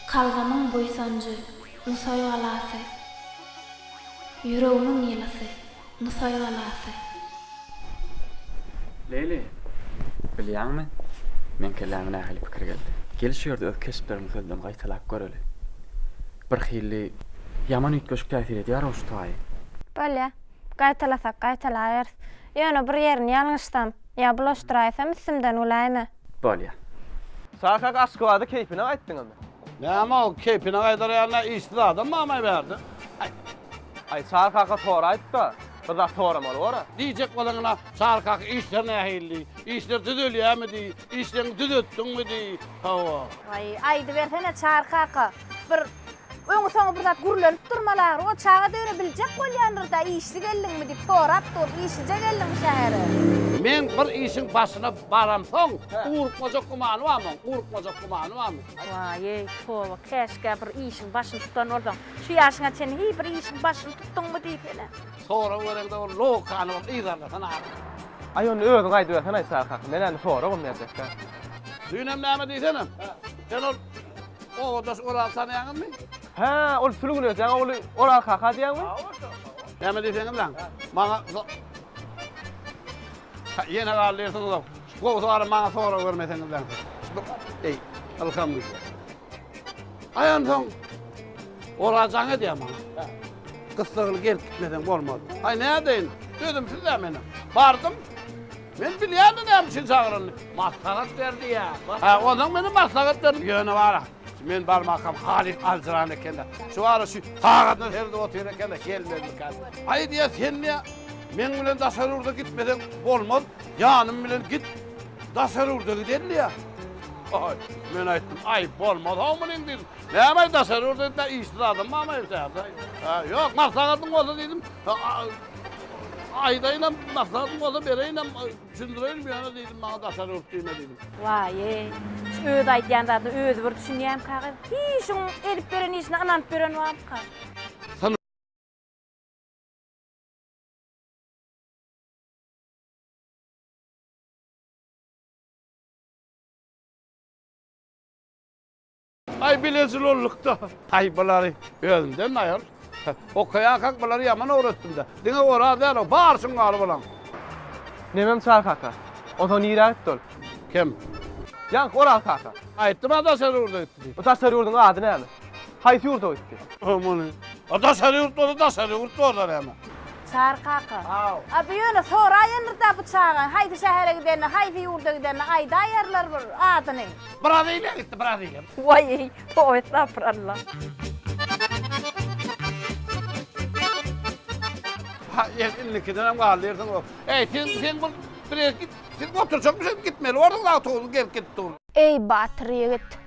Kalbymyň buýsanjy, Nusaý galasy, Ýüregimiň ýylysy, Nusaý galasy. Leýli, bilýäňmi, meň kelläme nähili pikir geldi? Gel şu ýerde öz keşplerimizi sözden gaýtalap göreli. Birhili ýaman üýtgeşik täsir edýär-ow şu taýy. Bolýa. Gaýtalasak gaýtalaýarys. Ýöne bir ýerini ýalňyşsam? Ýa bulaşdyraýsam üstümden güläýme. Bolýa. Şaşak Aşgabada keýpine gaýtdyňyzmy? Näme ol keýpine gaýdarýar nä işsiz adam mamaý bärde. Aý. Aý Çary kaka sora aýtda. Bir zat soramaly bora. Diýjek bolanyna Çary kaka işler nähili diý. Işler düzelýämi diý. Işleňi düzetdiňmi diý. Hawa. Aý aýdybersene Çary kaka. Bir öňi-soňy bir zat gürlenip durmaly ahyry. O çaga döre biljek bolýandyr-da, işli geldiňmi diýip sorap dur. Işlije geldiňmi şähere? Meň bir işiň başyna baramsoň, ugrukmajak gümany barmy? Ugrukmajak gümany barmy? Waý-eý, toba, käşgä bir işiň başyny tutan bolsaň. Şu ýaşyňa çenli hiý bir işiň başyny tutduňmy diýip ene. Sorag bereňde ol logikany bir yzarlasana ahyry. Aý, onda özüň aýdybersen-aý, Çary kaka. Men-ä indi soragam berjek däl. Düýn hem näme diýsene? Sen ol obadaş Oral tanýaňyzmy? Hä, ol Sülgün öýjäň ogly Oral kaka diýýäňmi? Näme diýseňiz lan? Maňa Ýene galdy ýersiňiz-ow. Gowusy barym maňa sorag bermeseňiz lan. Eý, ylham güýji. Aý onsoň Oral jaň edýär maňa. Gyssagyny gelip gitmeseň bolmaz. Aý nädeýin? Sözüm sizde meniň. Bardym. Men bilýärdim näme üçin çagyranyny. Maslahat berdi ýa. Hä, onsoň menem maslahat berdim. Ýöne wara, men barmakam Halyk aljyran eken-de. Şu wara şu sagadyna seredip otyr eken-de, gelmezmika. Aý diýýär, sen diýýär, meň bilen daşary ýurda gitmeseň bolmaz, ýanym bilen git, daşary ýurda gideli diýýär. Aý, men aýtdym, aý, bolmaz-ow munyň diýdim. Näme-aý, daşary ýurda gitmän, işsiz adam barmy-aý bu şäherde-aý? Hä, ýok, maslahatyň bolsa diýdim. Aýdaýynam, maksadyň bolsa bereýinem, düşündireýinim ýöne diýdim, maňa daşary ýurt diýme diýdim. Waýe, şu öz aýdýan zadyna özi bir düşünýämka gyz. Hiý, şuň edip beren işine ynanyp beren barmyka? Ay bilezil olduk da. Ay bulary özümden ayol. Okuyakak bulary yaman öwretdim de. Dine oraz däl o, bar şungaly bulan. Nemem çar kaka. Onsoň nirä gitdi ol? Kim? Ýaňky Oraz kaka. Aýtdym a daşary ýurda gitdi diýip. Bu daşary ýurduň ady näme? Haýsy ýurda gitdi? Ömüni. A daşary ýurt bolsa daşary ýurt bolar eme. Çar kaka. Aw. A bu ýöne soraýandyr-da bu çagaň haýsy şähere gidenini, haýsy ýurda gidenini aýdaýarlar bir adyny. Braziliýa gitdi, Braziliýa. Waý, toý estagfuralla. Ha, ýer indikiden hem galdy ýerden o. Eý, sen, sen bu bir ýere git. Sen oturjak bir şey gitmeli. Orada da oturdu, gelip gidip dur. Eý, batyr ýigit,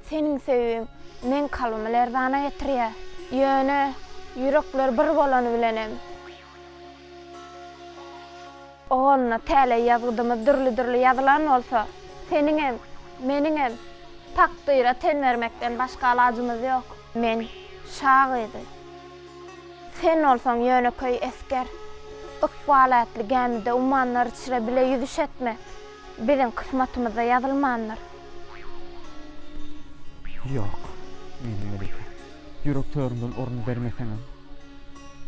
seniň söýgiň meň kalbymy lerzana getirýär. Ýöne ýürekler bir bolany bilenem. Ogulna, täleý ýazgydymyz dürli-dürli ýazylan bolsa, seniňem, meniňem takdyra ten bermekden başga alajymyz ýok. Men, şa gyzy. Sen bolsaň ýönekeý esger. Ykbal ätli gämide ummanlar içre bile ýüzüş etme. Biziň kysmatymyzda ýazylmandyr. Ýok, meniň Melike. Ýürek törümden orun bermeseňem,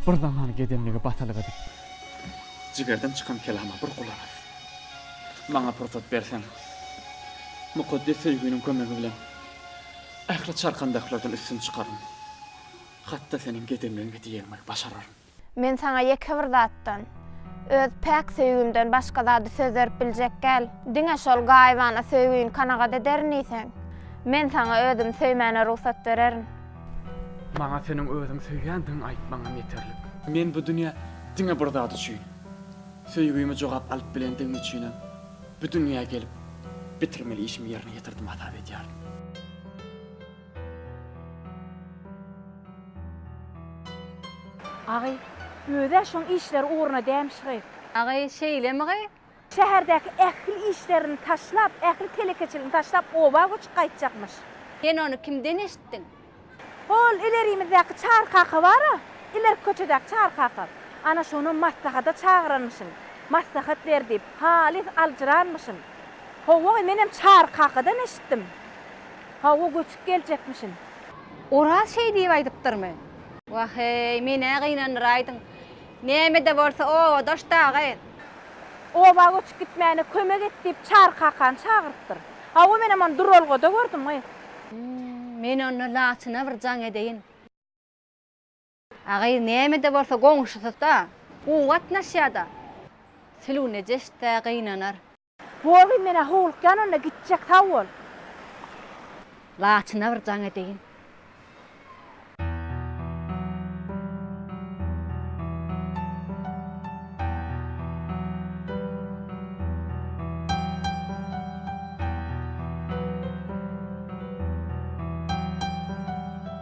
bir zaman gedemligi basalyk edip. Jigerden çykan kelama bir gulak as. Maňa pursat berseň, mukaddes söýginiň kömegi bilen ähli çarkandaklardan üstün çykaryn. Hat-da seniň gedemligiňe diýegimi başararyn. Men saňa ýeke bir zatdan, öz päk söýgimden başga zady söz berip biljek däl. Diňe şol gaýybana söýgini kanagat ederin diýseň, men saňa özümi söýmäne rugsat bererin. Maňa seniň özüňi söýýändigiňi aýtmagyňam ýeterlik. Men bu dünýä diňe bir zat üçin, söýgimi jogap alyp bilendigim üçinem bu dünýä gelip, bitirmeli işimi ýerine ýetirdim hasap edýärin. Agy, Özi-ä şoň işleri ugruna dämiş gyz. Agy, Şeýlemi gyz? Şäherdäki ähli işlerini taşlap, ähli telekeçiligini taşlap oba göçüp gaýtjakmyş. Sen ony kimden eşitdiň? Hol ilerimizdäki Çary kaka bar-a, ilerki köçedäki Çary kaka. Ana şonam maslahata çagyranmyşyn. Maslahat ber diýip, halys aljyranmyşyn. Hawa gyz, menem Çary kakadan eşitdim. Hawa, göçüp geljekmişin. Oraz şeý diýip aýdypdyrmy? Wah-eý, men-ä gynandyraýdym. Näme-de bolsa, obadaş dagy. Oba göçüp gitmäne kömek et diýip, Çary kakany çagyrypdyr. Hawa, menem ony duralgada gördüm-ä. Men onda Laçyna bir jaň edeýin. Agyz nämede bolsa goňşusy-da, gowy gatnaşýa-da. Sülüw nejes-dä, gynanar. Bogy, men-ä howlukýan onda, gitjek, sag bol. Laçyna bir jaň edeýin.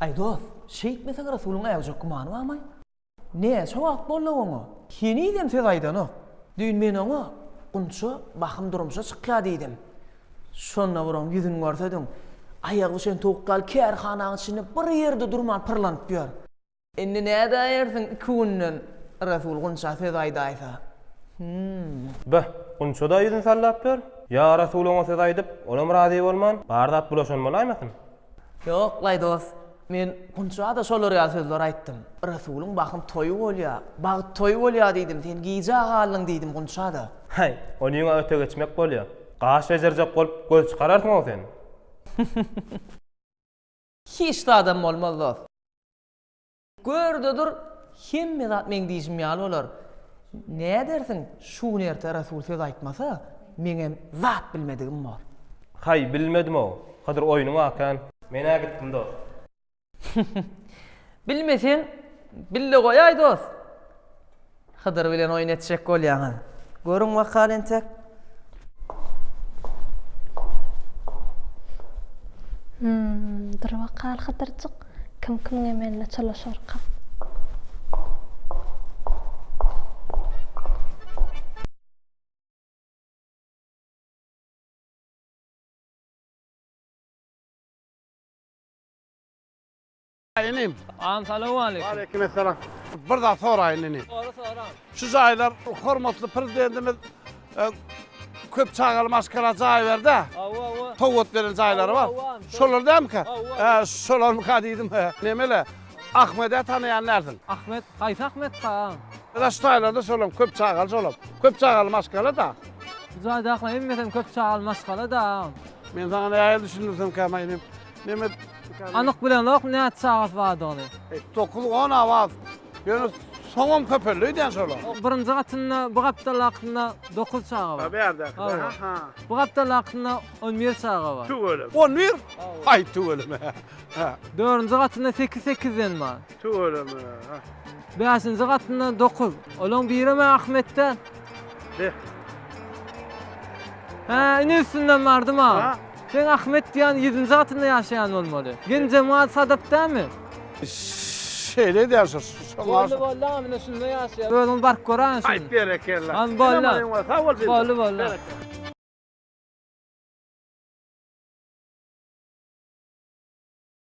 Aý dost, şeýtmeseň Rasulyň äwjek gümany barmy? Näçe wagt boldy oňa? Henizem söz aýdanok. Düýn men oňa, Gunça, bahym durmuşa çykýar diýdim. Şonda bir oň ýüzüni görsediň. Aýagy bişen towuk ýaly kärhanaň içinde bir ýerde durman pyrlanyp ýör. Indi nädäýersiň iki günden Resul Gunça söz aýdaýsa? Hum. Beh, Gunça-da ýüzüni sallap ýör. Ýa Resul oňa söz aýdyp, olam razy bolman, bar zat bulaşan bolaýmasyn? Ýok, laý dost. Men Gunça-da şolar ýaly sözler aýtdym. Resulyň bahym toýy bolýa, bagt toýy bolýa diýdim, sen gijä galdyň diýdim Gunça-da. Häý, ony ýüňe öte geçmek bolýa. Gaş bejerjek bolup göz çykararsyň-ow sen. Hiç zadam bolmaz dost. Gör-de dur, hemme zat meň diýşim ýaly bolar. Nädersiň, şu gün erte Rasul söz aýtmasa, meňem zat bilmedigim bor. Haý, bilmedim-ow. Hydyr oýnuňy akän. Men-ä gitdim dost. Bilmeseň, bille goýaý dost. Hydyr bilen oýun etjek bolýaňyz. Görüň wakany entek. Hum, dur wakal Hydyrjyk, kim kimiň emeline çalyşarka. Inim. Agam salowmaleýkim. Waleýkim essalam. Bir zat soraýyn inim. Sora sora. Şu jaýlar hormatly prezidentimiz köp çagaly maşgala jaý berdi. Hawa hawa. Sowgat beren jaýlary bar. Şolar dämika? Hawa. Şolarmyka diýdim. Nemele? Ahmede tanaýan dälsiň? Ahmet, haýsy Ahmet ka? Ýa şu jaýlarda şolam köp çagaly şolam. Köp çagaly maşgala da. Bu jaýdaky hemmesem köp çagaly maşgala da. Men saňa nähili düşündirsem käma inim? Nemes dükany. Anyk bilemzok näçe çagasy bardygyny. Dokuz on awaz. Ýöne soňam köpeldi öýdýän şolar. O birinji gatynda bu gapdalakynda dokuz çaga bar. Bärdäki. Hawa. Ha. Bu gapdalakynda on bir çaga bar. Tüweleme. On bir? Haý tüweleme. Ha. Dördünji gatynda sekiz sekizden bar. Tüweleme. Ha. Bäşinji gatynda dokuz. Olaň birem Ahmetden. Heh. Hä, ine üstünden bardym ha. Ha. Seň Ahmet diýýän ýedinji gatynda ýaşaýan bolmaly. Genjemal Sadap dälmi? Şeýle edýän şo. Boldy boldy aga mine şunda ýaşaýar. Özüňiz baryp göräýiň şuny. Aýt berekella. An boldy. Salam aleýkum sag bol Dildoş. Boldy boldy.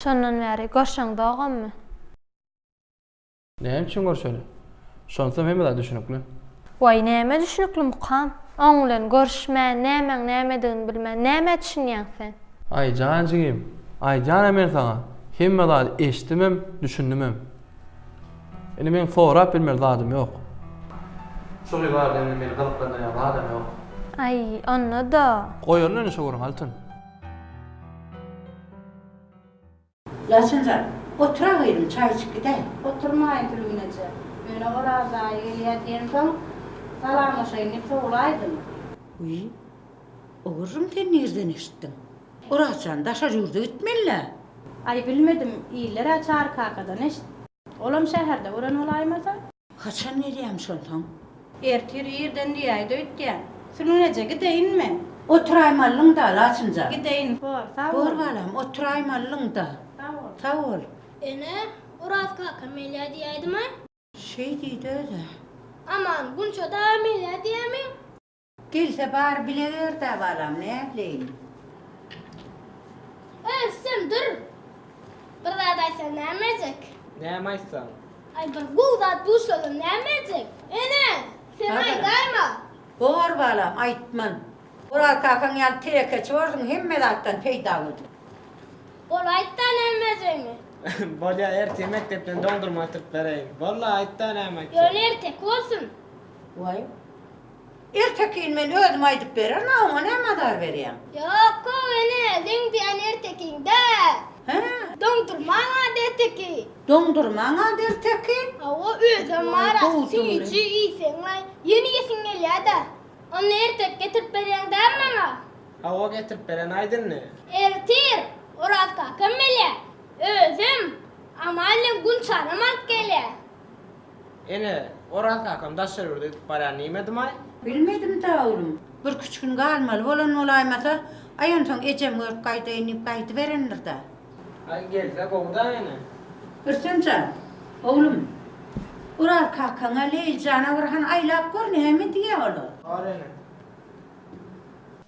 Şondan bäri görşeň dogammy. Näme üçin görşeli? Şonsam hemme zat düşünikli. Waý, näme düşünikli mukam? Oň bilen görşmän, nämäň nämedigini bilmän, nämä düşünýäň sen? Aý, jan jigim, aýdýan-a men saňa, hemme zady eşitdimem, düşündimem. Indi meň sorap bilmeli zadym ýok. Şu gyz barada indi meni gyzyklandyrýan zadam ýok. Aý, onda-da. Goýalyna indi şu gürrüňi, Altyn. Laçynjan, otur-a gyzym, çaý içip gidäý. Oturmaýyn, Tülgün eje. Ýöne Oraz aýy gelýär diýensoň, salamlaşaýyn diýip sowulaýdym. Wiý, ogurjym, sen nirden eşitdiň? Oraz jan, daşary ýurda gitmeli-dä. Aý, bilmedim, iller-ä Çary kakadan eşitdi. Olam şäherde gören bolaýmasa? Haçan gelýämiş onsoň? Ertir irden diýäýdi öýtýän. Sülgün eje, gideýin men. Oturaýmalyň-da, Laçyn jan. Gideýin, bor, sag bol. Bor, balam, oturaýmalyň-da. Sag bol. Sag bol. Ene, Oraz kaka Melýa diýäýdimi? Şeý diýdi öz-ä. Aman, Gunça dagy Melýa diýämi? Gelse bar bile ber-dä balam, nätleýin. Öz sen dur. Bir zat aýtsaň nämejek? Näme aýtsaň? Aý bir gowy zat duşalyň nämejek? Ene, sen aýdaýma. Bor balam, aýtman. Oraz kakaň ýaly tirekeçi borsuň, hemme zatdan peýdalydyr. Bol aýt-da nämejegini. Bolýa, ertir mekdepden doňdurma getirip bereýin. Bol-la, aýt-da näme aýtjak? Ýöne erteki bolsun. Waý, Ertekin men özüm aýdyp bererin a oňa näme azar berýäň. Ýok gowy ene seň diýýän ertekiň däl. Hä? Doňdurmaň ad ertekin. Doňdurmaň ad ertekin? Hawa özem bar a süýji iýseňlaý ýene iýesiň gelýäda. Onda ertek getirip berýäň däl maňa? Hawa getirip beren aýt indi. Ertir Oraz kakam gelýä özem Amal bilen Gunçanam alyp gelýä. Ene, Oraz kakam daşary ýurda gidip barýar niýmedimay? Bilmedim-da, oglum. Birküç gün galmaly bolan bolaýmasa, aý onsoň ejem görüp gaýdaýyn diýip gaýdyberendir-dä. Aý, gelse gowy-da, ene. Rüstem jan, oglum, Oraz kakaňa, Leýli jana bir hany aýlap gör, näme diýýä olar? Bar, ene.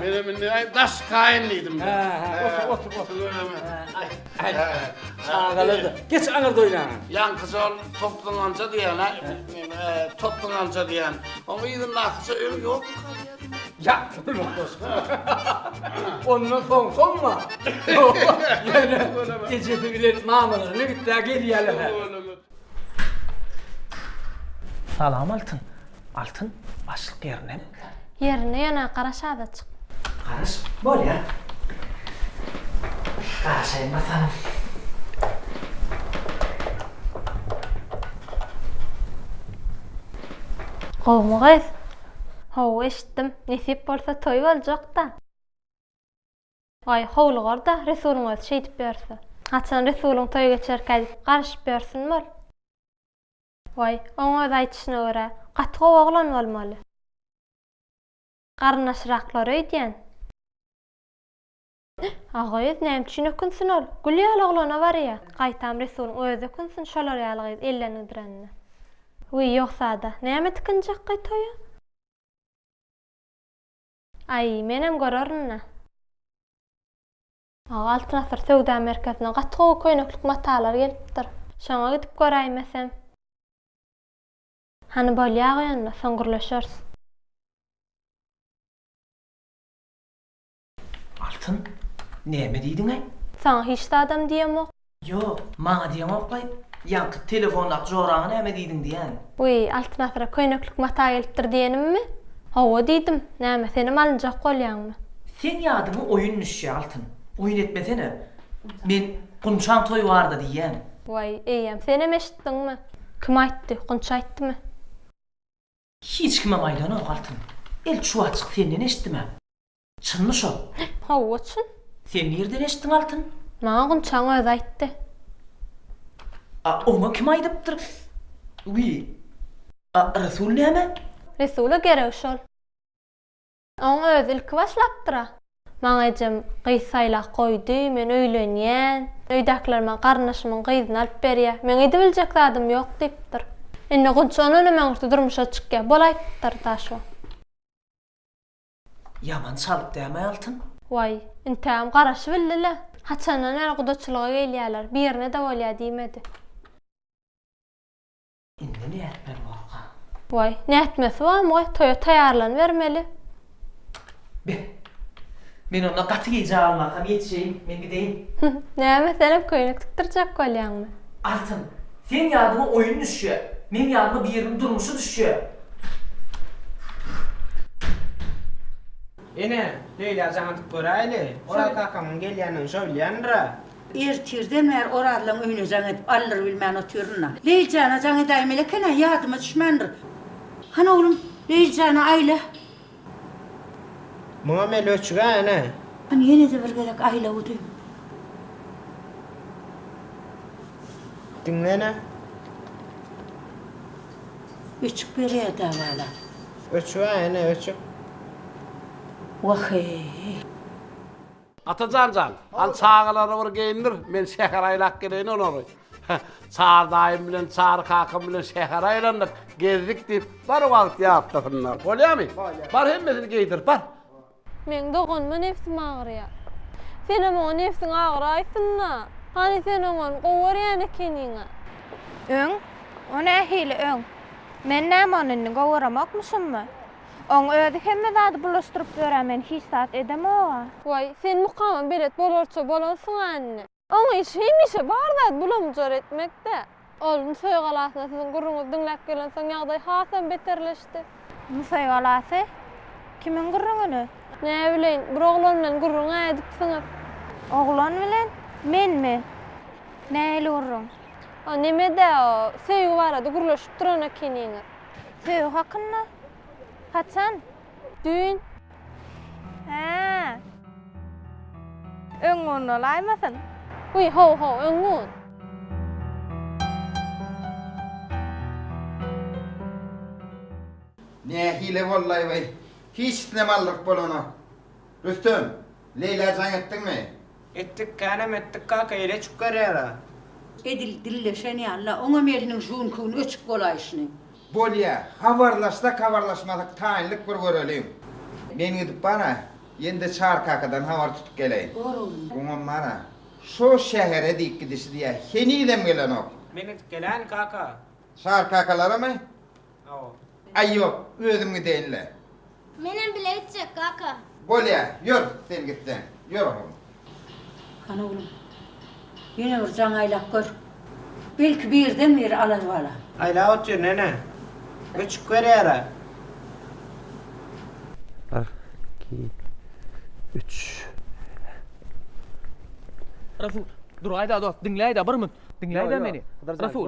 Menem indi aý daş kaýyn diýdim. Hä, otur, otur, otur. Aý, çagalar-da. Geç aňyr doýnaňa. Ýaňkyja ol topluňanja diýen-ä, topluňanja diýen. Oň yzyndakyja öň ýokmy? Ýat bolma goşgy. Ondan soň soňma. Ýöne ejesi bilen mamalaryna gitdä gelýärler. Salam Altyn. Altyn, başlyk ýerinemi? Ýerinde ýöne garaş azajyk. Garaş? Bolýar. Garaşaýyn bakalym. Gowumy gyz? Hawa eşitdim. Nesip bolsa toý boljak-da. Aý, howlugar-da, Resulyň özi şeýdip ýörse. Haçan Resulyň toýy geçerkä diýip, garyşyp ýörsinmi ol? Waý, oň öz aýdyşyna görä, gaty gowy oglan bolmaly. Garyndaşyraklar öýdýän. Agyz, näme üçin ökünsin ol? Gül ýaly oglana barýa. Gaýtam Resulyň özi ökünsin şolar ýaly gyz ellengidirenine. Wiý, ýogsa-da, näme tikinjekkaý toýa? Aý, menem görerin-le. Aga Altyn Asyr söwda merkezine gaty gowy köýneklik matalar gelipdir. Şoňa gidip göräýmesem. Hany bolýa-goý onda, soň gürleşeris. Altyn, näme diýdiň-ä? Saňa hiç zadam diýemok. Ýok, maňa diýeňokkaý, ýaňky telefondaky joraňa näme diýdiň diýýän. Wiý, Altyn asyra köýneklik mata gelipdir diýenimmi? Hawa diýdim, näme, senem alynjak bolýaňmy? Seň ýadyňa oýun düşýä, Altyn. Oýun etmesene. Men Gunçaň toýy barda diýýän. Waý, eýýäm, senem eşitdiňmi? Kim aýtdy, Gunç aýtdymy? Hiç kimem aýlanok altyn. El çuwaçyk senden eşitdim a. Çynmy şo? Hawa çyn. Sen nirden eşitdiň altyn? Maňa Gunçaň özi aýtdy. A oňa kim aýdypdyr? Wiý. A Resul näme? Resula geregi şol. Oň özi ilki başlapdyr-a. Maňa ejem gyz saýlap goýdy, men öýlenýän. Öýdäkiler maňa garyndaşymyň gyzyny alyp berýär. Meň edibiljek zadym ýok diýipdir. Indi Gunç ondan hem öňürti durmuşa çykýar. Bol aýtdyr da şo. Ýaman çalyp dämi Altyn? Waý, intägem garaşybildi-le. Haçandan bäri gudaçylyga gelýärler. Birine-de bolýa diýmedi. Indi nätmeli bolka. Waý, nätmesi barmy goý, toýa taýýarlanybermeli. Be. Men onda gaty geýji almarakam ýetişeýin, men gideýin. Hüh, näme, senem köýnek tikdirjek bolýaňmy? Altyn, seň ýadyňa oýun düşýär, meň ýadyma biriniň durmuşy düşýär. Ene, Leýlajana atyp göräýli. Oraz kakamyň gelýändigini şo bilýändir-ä. Ertirden bäri Orazlaň öýüne jaň edip, aldyrybilmän otyryn-da. Leýli jana jaň edäýmeli eken-ä, ýadyma düşmändir. Hany, oglum, Leýli jana aýla. Muňam el öçüg-ä, ene. Hany, ýene-de bir gezek aýla udy. Diňle, ene. Öçük berýär-dä, bala. Öçük-ä, ene, öçük. Wah-eý! Atajan jan, hany çagalary bir geýindir, men şähere aýlap geleýin olary. Çary daýym bilen Çary kakam bilen şähere aýlandyk, gezdik diýip, bir wagt ýatlasynlar. Bolýamy? Bolýar. Bar hemmesini geýdir, bar. Meň doganyma nebsim agyrýar. Senem oňa nebsiň agyraýsyn-da. Hany sen oňony gowy görýän ekeniň-ä? Öň? O nähili öň? Men näme ony indi gowy göremokmuşammy? Oň özi hemme zady bulaşdyryp böra men hiç zat edemoga. Waý, sen mukama belet bolarça bolansyň-a indi. Oň işi hemişe bar zat bulamjar etmekdä. Ol Nusaý galasyna siziň gürrüňizi diňläp gelensoň ýagdaý hasam beterleşdi. Nusaý galasy? Kimiň gürrüňini? Näbileýin, bir oglan bilen gürrüň-ä edipsiňiz. Oglan bilen? Menmi? Nähili gürrüň? O neme-dä, o, söýgi barada gürleşip duran ekeniňiz. Söýgi hakynda? Haçan? Düýn. Hä. Öň gün bolaýmasyn? Wiý, haw-haw, öň gün. Nähili bollaý we hiç islemaldyk bolanok. Rüstem, Leýlä jaň etdiňmi? Etdik, känem etdik kaka, ele çük garýara. Edil dilleşen ýaly-la, oňam eliniň žüňkügini öçüp bolaýşyny. Bolýa, habarlaşsak-habarlaşmasak taýynlyk bir göreliň. Men gidip bar-a, ýene-de Çary kakadan habar tutup geleýin. Bor oglum. Oňam bar-a, şo şähere diýip gidişi diýýä, henizem gelenok. Men gidip gelän kaka. Çary kakalaramy? Aý ýok, özüm gideýin-le. Menem bile gitjek, kaka. Bolýa, ýör, sen gitseň. Ýör, oglum. Hany, oglum, ýene bir jaň aýlap gör. Belki birden-bir alar balam. Aýlap otur, nene. Öçük berýär-ä. Bir, iki, üç. Rasul, dur-aý-da, dost, diňläý-dä, bir münt. Diňläý-dä meni, Rasul!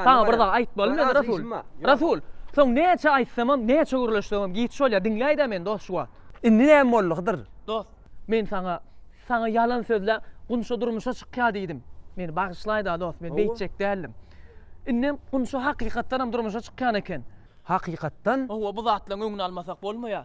Saňa bir zat aýtmaly men, Rasul! Rasul! Soň näçe aýtsamam, näçe gürleşsemem giç bolýar, diňläý-dä meni, dost, şu wagt! Indi näme boldy, Hydyr? Dost, men saňa, saňa ýalan sözläp, Gunça durmuşa çykýar diýdim. Meni bagyşlaý-da, dost, men beýtjek däldim. Indem Gunça hakykatdanam durmuşa çykýan eken. Hakykatdan? Hawa, bu zatlaryň öňüni almasak bolmaýar.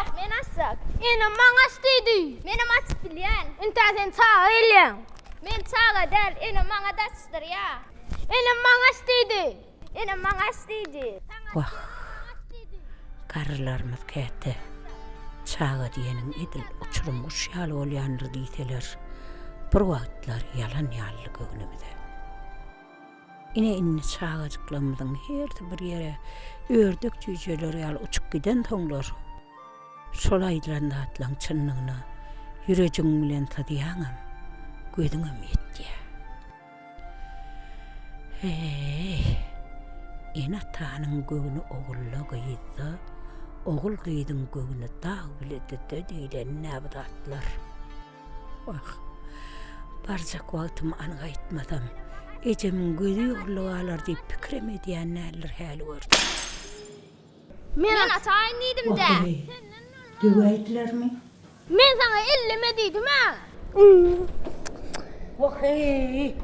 Ýok, men açjak. Enem maňa aç diýdi. Menem aç bilýän. Intä sen çaga gelýäň. Men çaga däl, enem maňa daçdyrýa. Enem maňa aç diýdi. Enem maňa aç diýdi. Wah, garrylarymyz käte çaga diýeniň edil uçurym guş ýaly bolýandyr diýseler, bir wagtlar ýalan ýalydy göwnümize. Ine indi çagajyklarymyzyň hersi bir ýere ördek jüýjeler ýaly uçup gidensoňlar, şol aýdylan zatlaryň çynlygyna ýürejigiň bilen syzýaňam, gözüňem ýetýär. Heý, ene-atanyň göwni ogulda, gyzda, ogul-gyzyň göwni dag-bilede-de diýlenine bu zatlar. Wah, barjak wagtymy an gaýtmasam, ejemiň gözi ýolda galar diýip pikirem edýän däldir häli görseň. Men ataýyn diýdim-dä. Wah, eneý, döwäýdilermi? Men saňa elleme diýdim-ä. Wah, eý,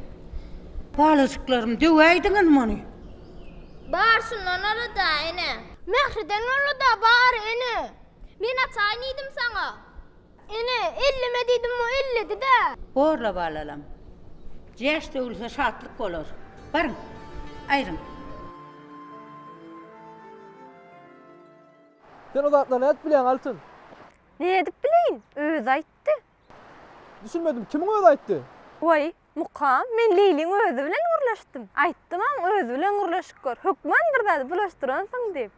balajyklarym, döwäýdiňizmi ony? Bar, şundan ora-da, ene. Mähriden ora-da, bar, ene. Men ataýyn diýdim saňa. Ene, elleme diýdim, o elledi-dä. Borla balalam. Jäş döwülse şatlyk bolar. Baryň, aýryň. Sen o zatlary nädip bilýäň, Altyn? Nädip bileýin? Özi aýtdy. Düşünmedim, kimiň özi aýtdy? Waý, Mukam, men Leýliň özi bilen gürleşdim. Aýtdymam, özi bilen gürleşip gör. Hökman bir zady bulaşdyransyň diýip.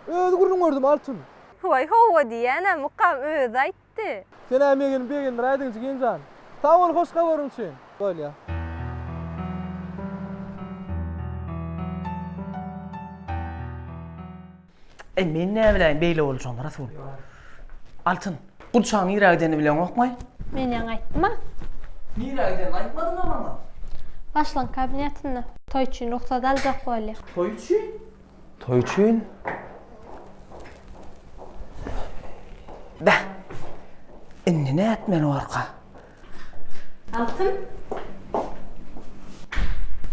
Öz gürrüň gördüm, Altyn. Waý, hawa diýýän-ä, Mukam özi aýtdy. Sen-ä megenip begendiräýdiň, jigim jan. Sag bol hoş habaryň üçin. Bolýa. Eý, men näbiläýin beýle boljagyny, Rasul. Altyn, gurçagyň nirä gidenini bileňokmy? Men ýaňy aýtdym-a. Nirä gidenini aýtmadyň-a maňa? Başlygyň kabinetinde. Toý üçin rugsat aljak bolýa. Toý üçin? Toý üçin? Beh, indi nätmeli barka? Altyn.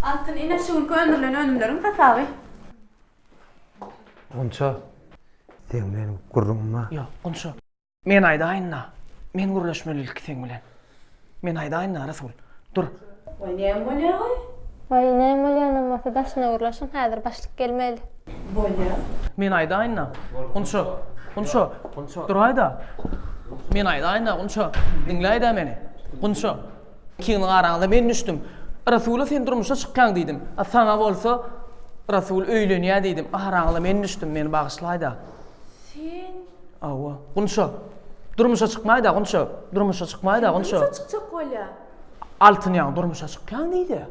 Altyn, ine, şu günki öndürilen önümleriň hasaby. Gunça, seň bilen gürrüňim bar. Ýok, Gunça. Men aýdaýyn-da. Men gürleşmeli ilki seň bilen. Men aýdaýyn-da, Rasul. Dur. Waý, näme bolýa-oý? Waý, näme bolýanam bolsa, daşyna gürleşiň, häzir başlyk gelmeli. Bolýa. Men aýdaýyn-da, Gunça. Gunça, duraý-da. Men aýdaýyn-da, Gunça. Diňläý-dä meni. Gunça. Kimin garaňda men düşdüm. Rasula sen durmuşa çykýaň diýdim. A saňa bolsa Rasul öýlenýä diýdim. Araňyza men düşdüm, meni bagyşlaýda. Sen? Hawa. Gunça. Durmuşa çykmaýda Gunça. Durmuşa çykmaýda Gunça. Durmuşa çykjak bolýa. Altyn ýaň durmuşa çykýaň diýdi.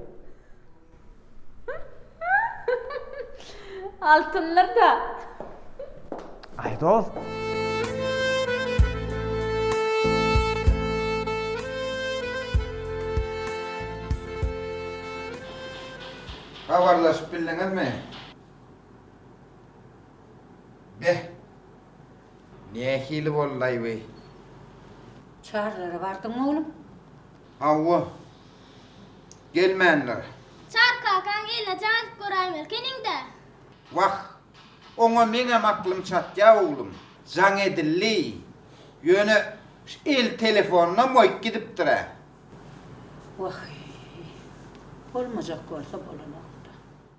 Altynlar da. Ay dost. Habarlaşyp bildiňizmi? Beh. Nähili boldaý bu? Çarlara bardyňmy oglum? Hawa. Gelmändir. Çary kakaň eline jaýylyp göräýmelkeniň-dä. Wah, oňa meňem aklym çatýa, oglum. Jaň edildi. Ýöne şu el telefonynam goýup gidipdir-ä. Wah-eý. Bolmajak bolsa bolanok-da.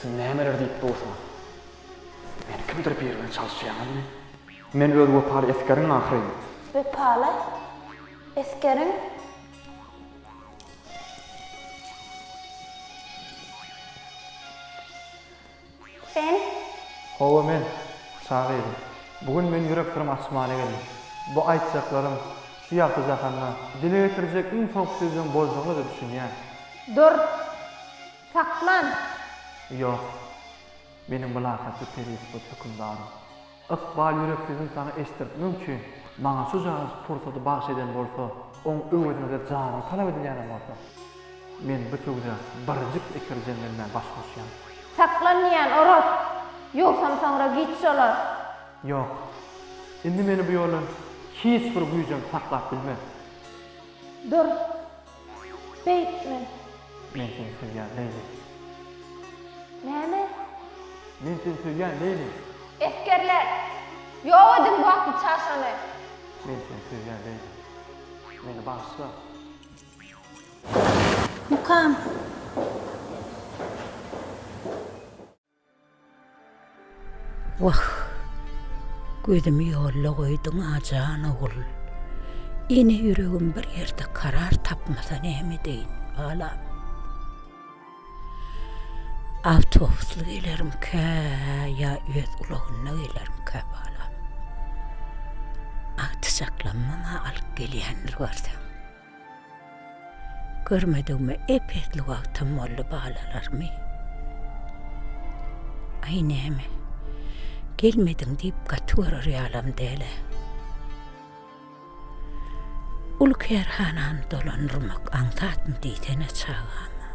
Siz nämeler diýip dursuňyz? Meni kimdir biri bilen çalyşýaňyzmy? Men öz wepaly esgeriň ahyryn. Wepaly esgeriň? Sen? Hawa men, çaga gyzym. Bu gün men ýürek syrymy açmaly geldim. Bu aýtjaklarym şu ýagty jahanda dile getirjek iň soňky sözleň boljagyna-da düşünýän. Dur! Saklan! Ýok. Meniň mylakatly perisipot hökümdarym. Ykbal ýüreksizini saňa eşitdirtmek üçin maňa şujagaz pursady bagyş eden bolsa, oň öwezine-de janyň talap edilýänem bolsa, men bu söwda birjik eper jeňlenmän baş goşýan. Saklan diýýän, Oraz! Ýogsam soňra giç şolar. Ýok. Indi meni bu ýoldan hiç bir güýjem saklap bilmez. Dur! Beýtme. Men seni söýýän, Leýli. Näme? Men seni söýýän, Leýli. Esgerler! Ýok ediň bu atly çaşany! Men seni söýýän, Leýli. Meni bagyşla! Mukam. Wah, gözümi ýolda goýduň-a jan ogul. Ene ýüregim bir ýerde karar tapmasa näme edeýin, balam. Awtobusly gelerimkä ýa öz ulagynda gelerimkä, balam. Agtyjaklamyň-a alyp gelýändir görseň. Görmedigime epesli wagtam boldy balalarymy. Aý näme, gelmediň diýip gaty görer ýalam däl-ä. Uly kärhanany dolandyrmak aňsatmy diýsene çagama.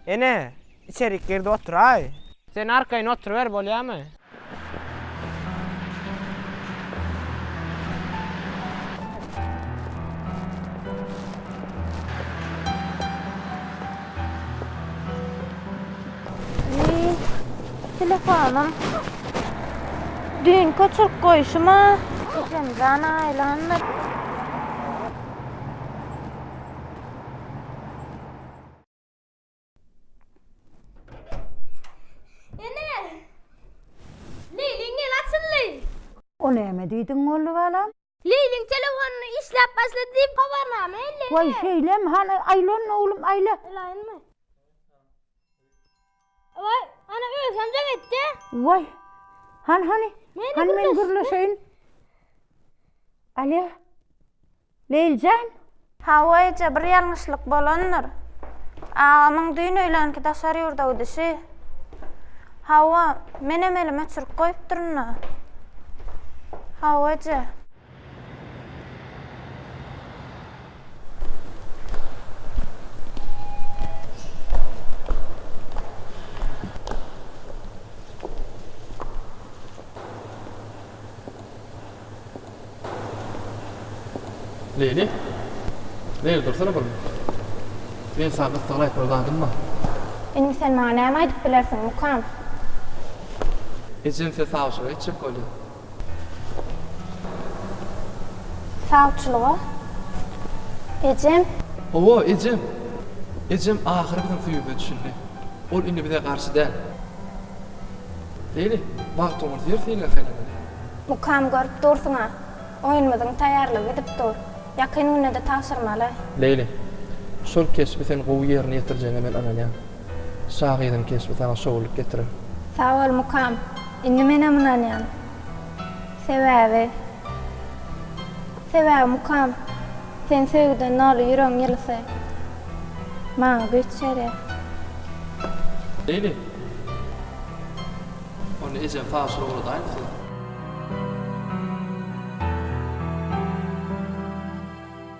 Ene, içerik girdi oturaý. Sen arkaýyn oturyber bolýamy? Telefonym düýnki oçuryp goýşuma Esemjan aýlandy. O näme diýdiň Molly balam? Leýliň telefonyny işläp başlady diýip habarnama elde. Waý şeýlem hany aýlan oglum aýla. Elaýynmy? Oy, ana özüm de gitti. Vay. Han hani? Meni Han men gürleşeyin. Alo. Leyljan. Hawaýja bir ýalňyşlyk bolandyr. Agamyň düýn öýlänki daşar ýurda gidişi. Hawa, menem elim öçürip goýupdyryn-da. Hawaýja. Leýli. Leýli dursana bir. Men saňa gyssagly aýtmaly zadym bar. Indi sen maňa näme aýdyp bilersiň, Mukam? Ejem size sawçylyk etjek bolýar. Sawçylyga ejem. Hawa, ejem. Ejem ahyry biziň söýgümize düşündi. Ol indi bize garşy däl. Beýle, bagt oňa zer seýle saýlamaly. Mukam görüp dursuň-a. Oýunymyzyň taýýarlygy gidip dur. Ýakyn günde-de tabşyrmaly. Beýle. Şol keşbi sen gowy ýerine ýetirjegiňe men ynanýan. Şahyryň keşbi saňa şowlulyk getirer. Sag bol mukam. Indi menem ynanýan. Sebäbi Sebäbi mukam sen söýgüden doly ýüregiň ýylysy maňa güýç berýär. Beýle. Ony ejem Taşyra ugradaýyn size.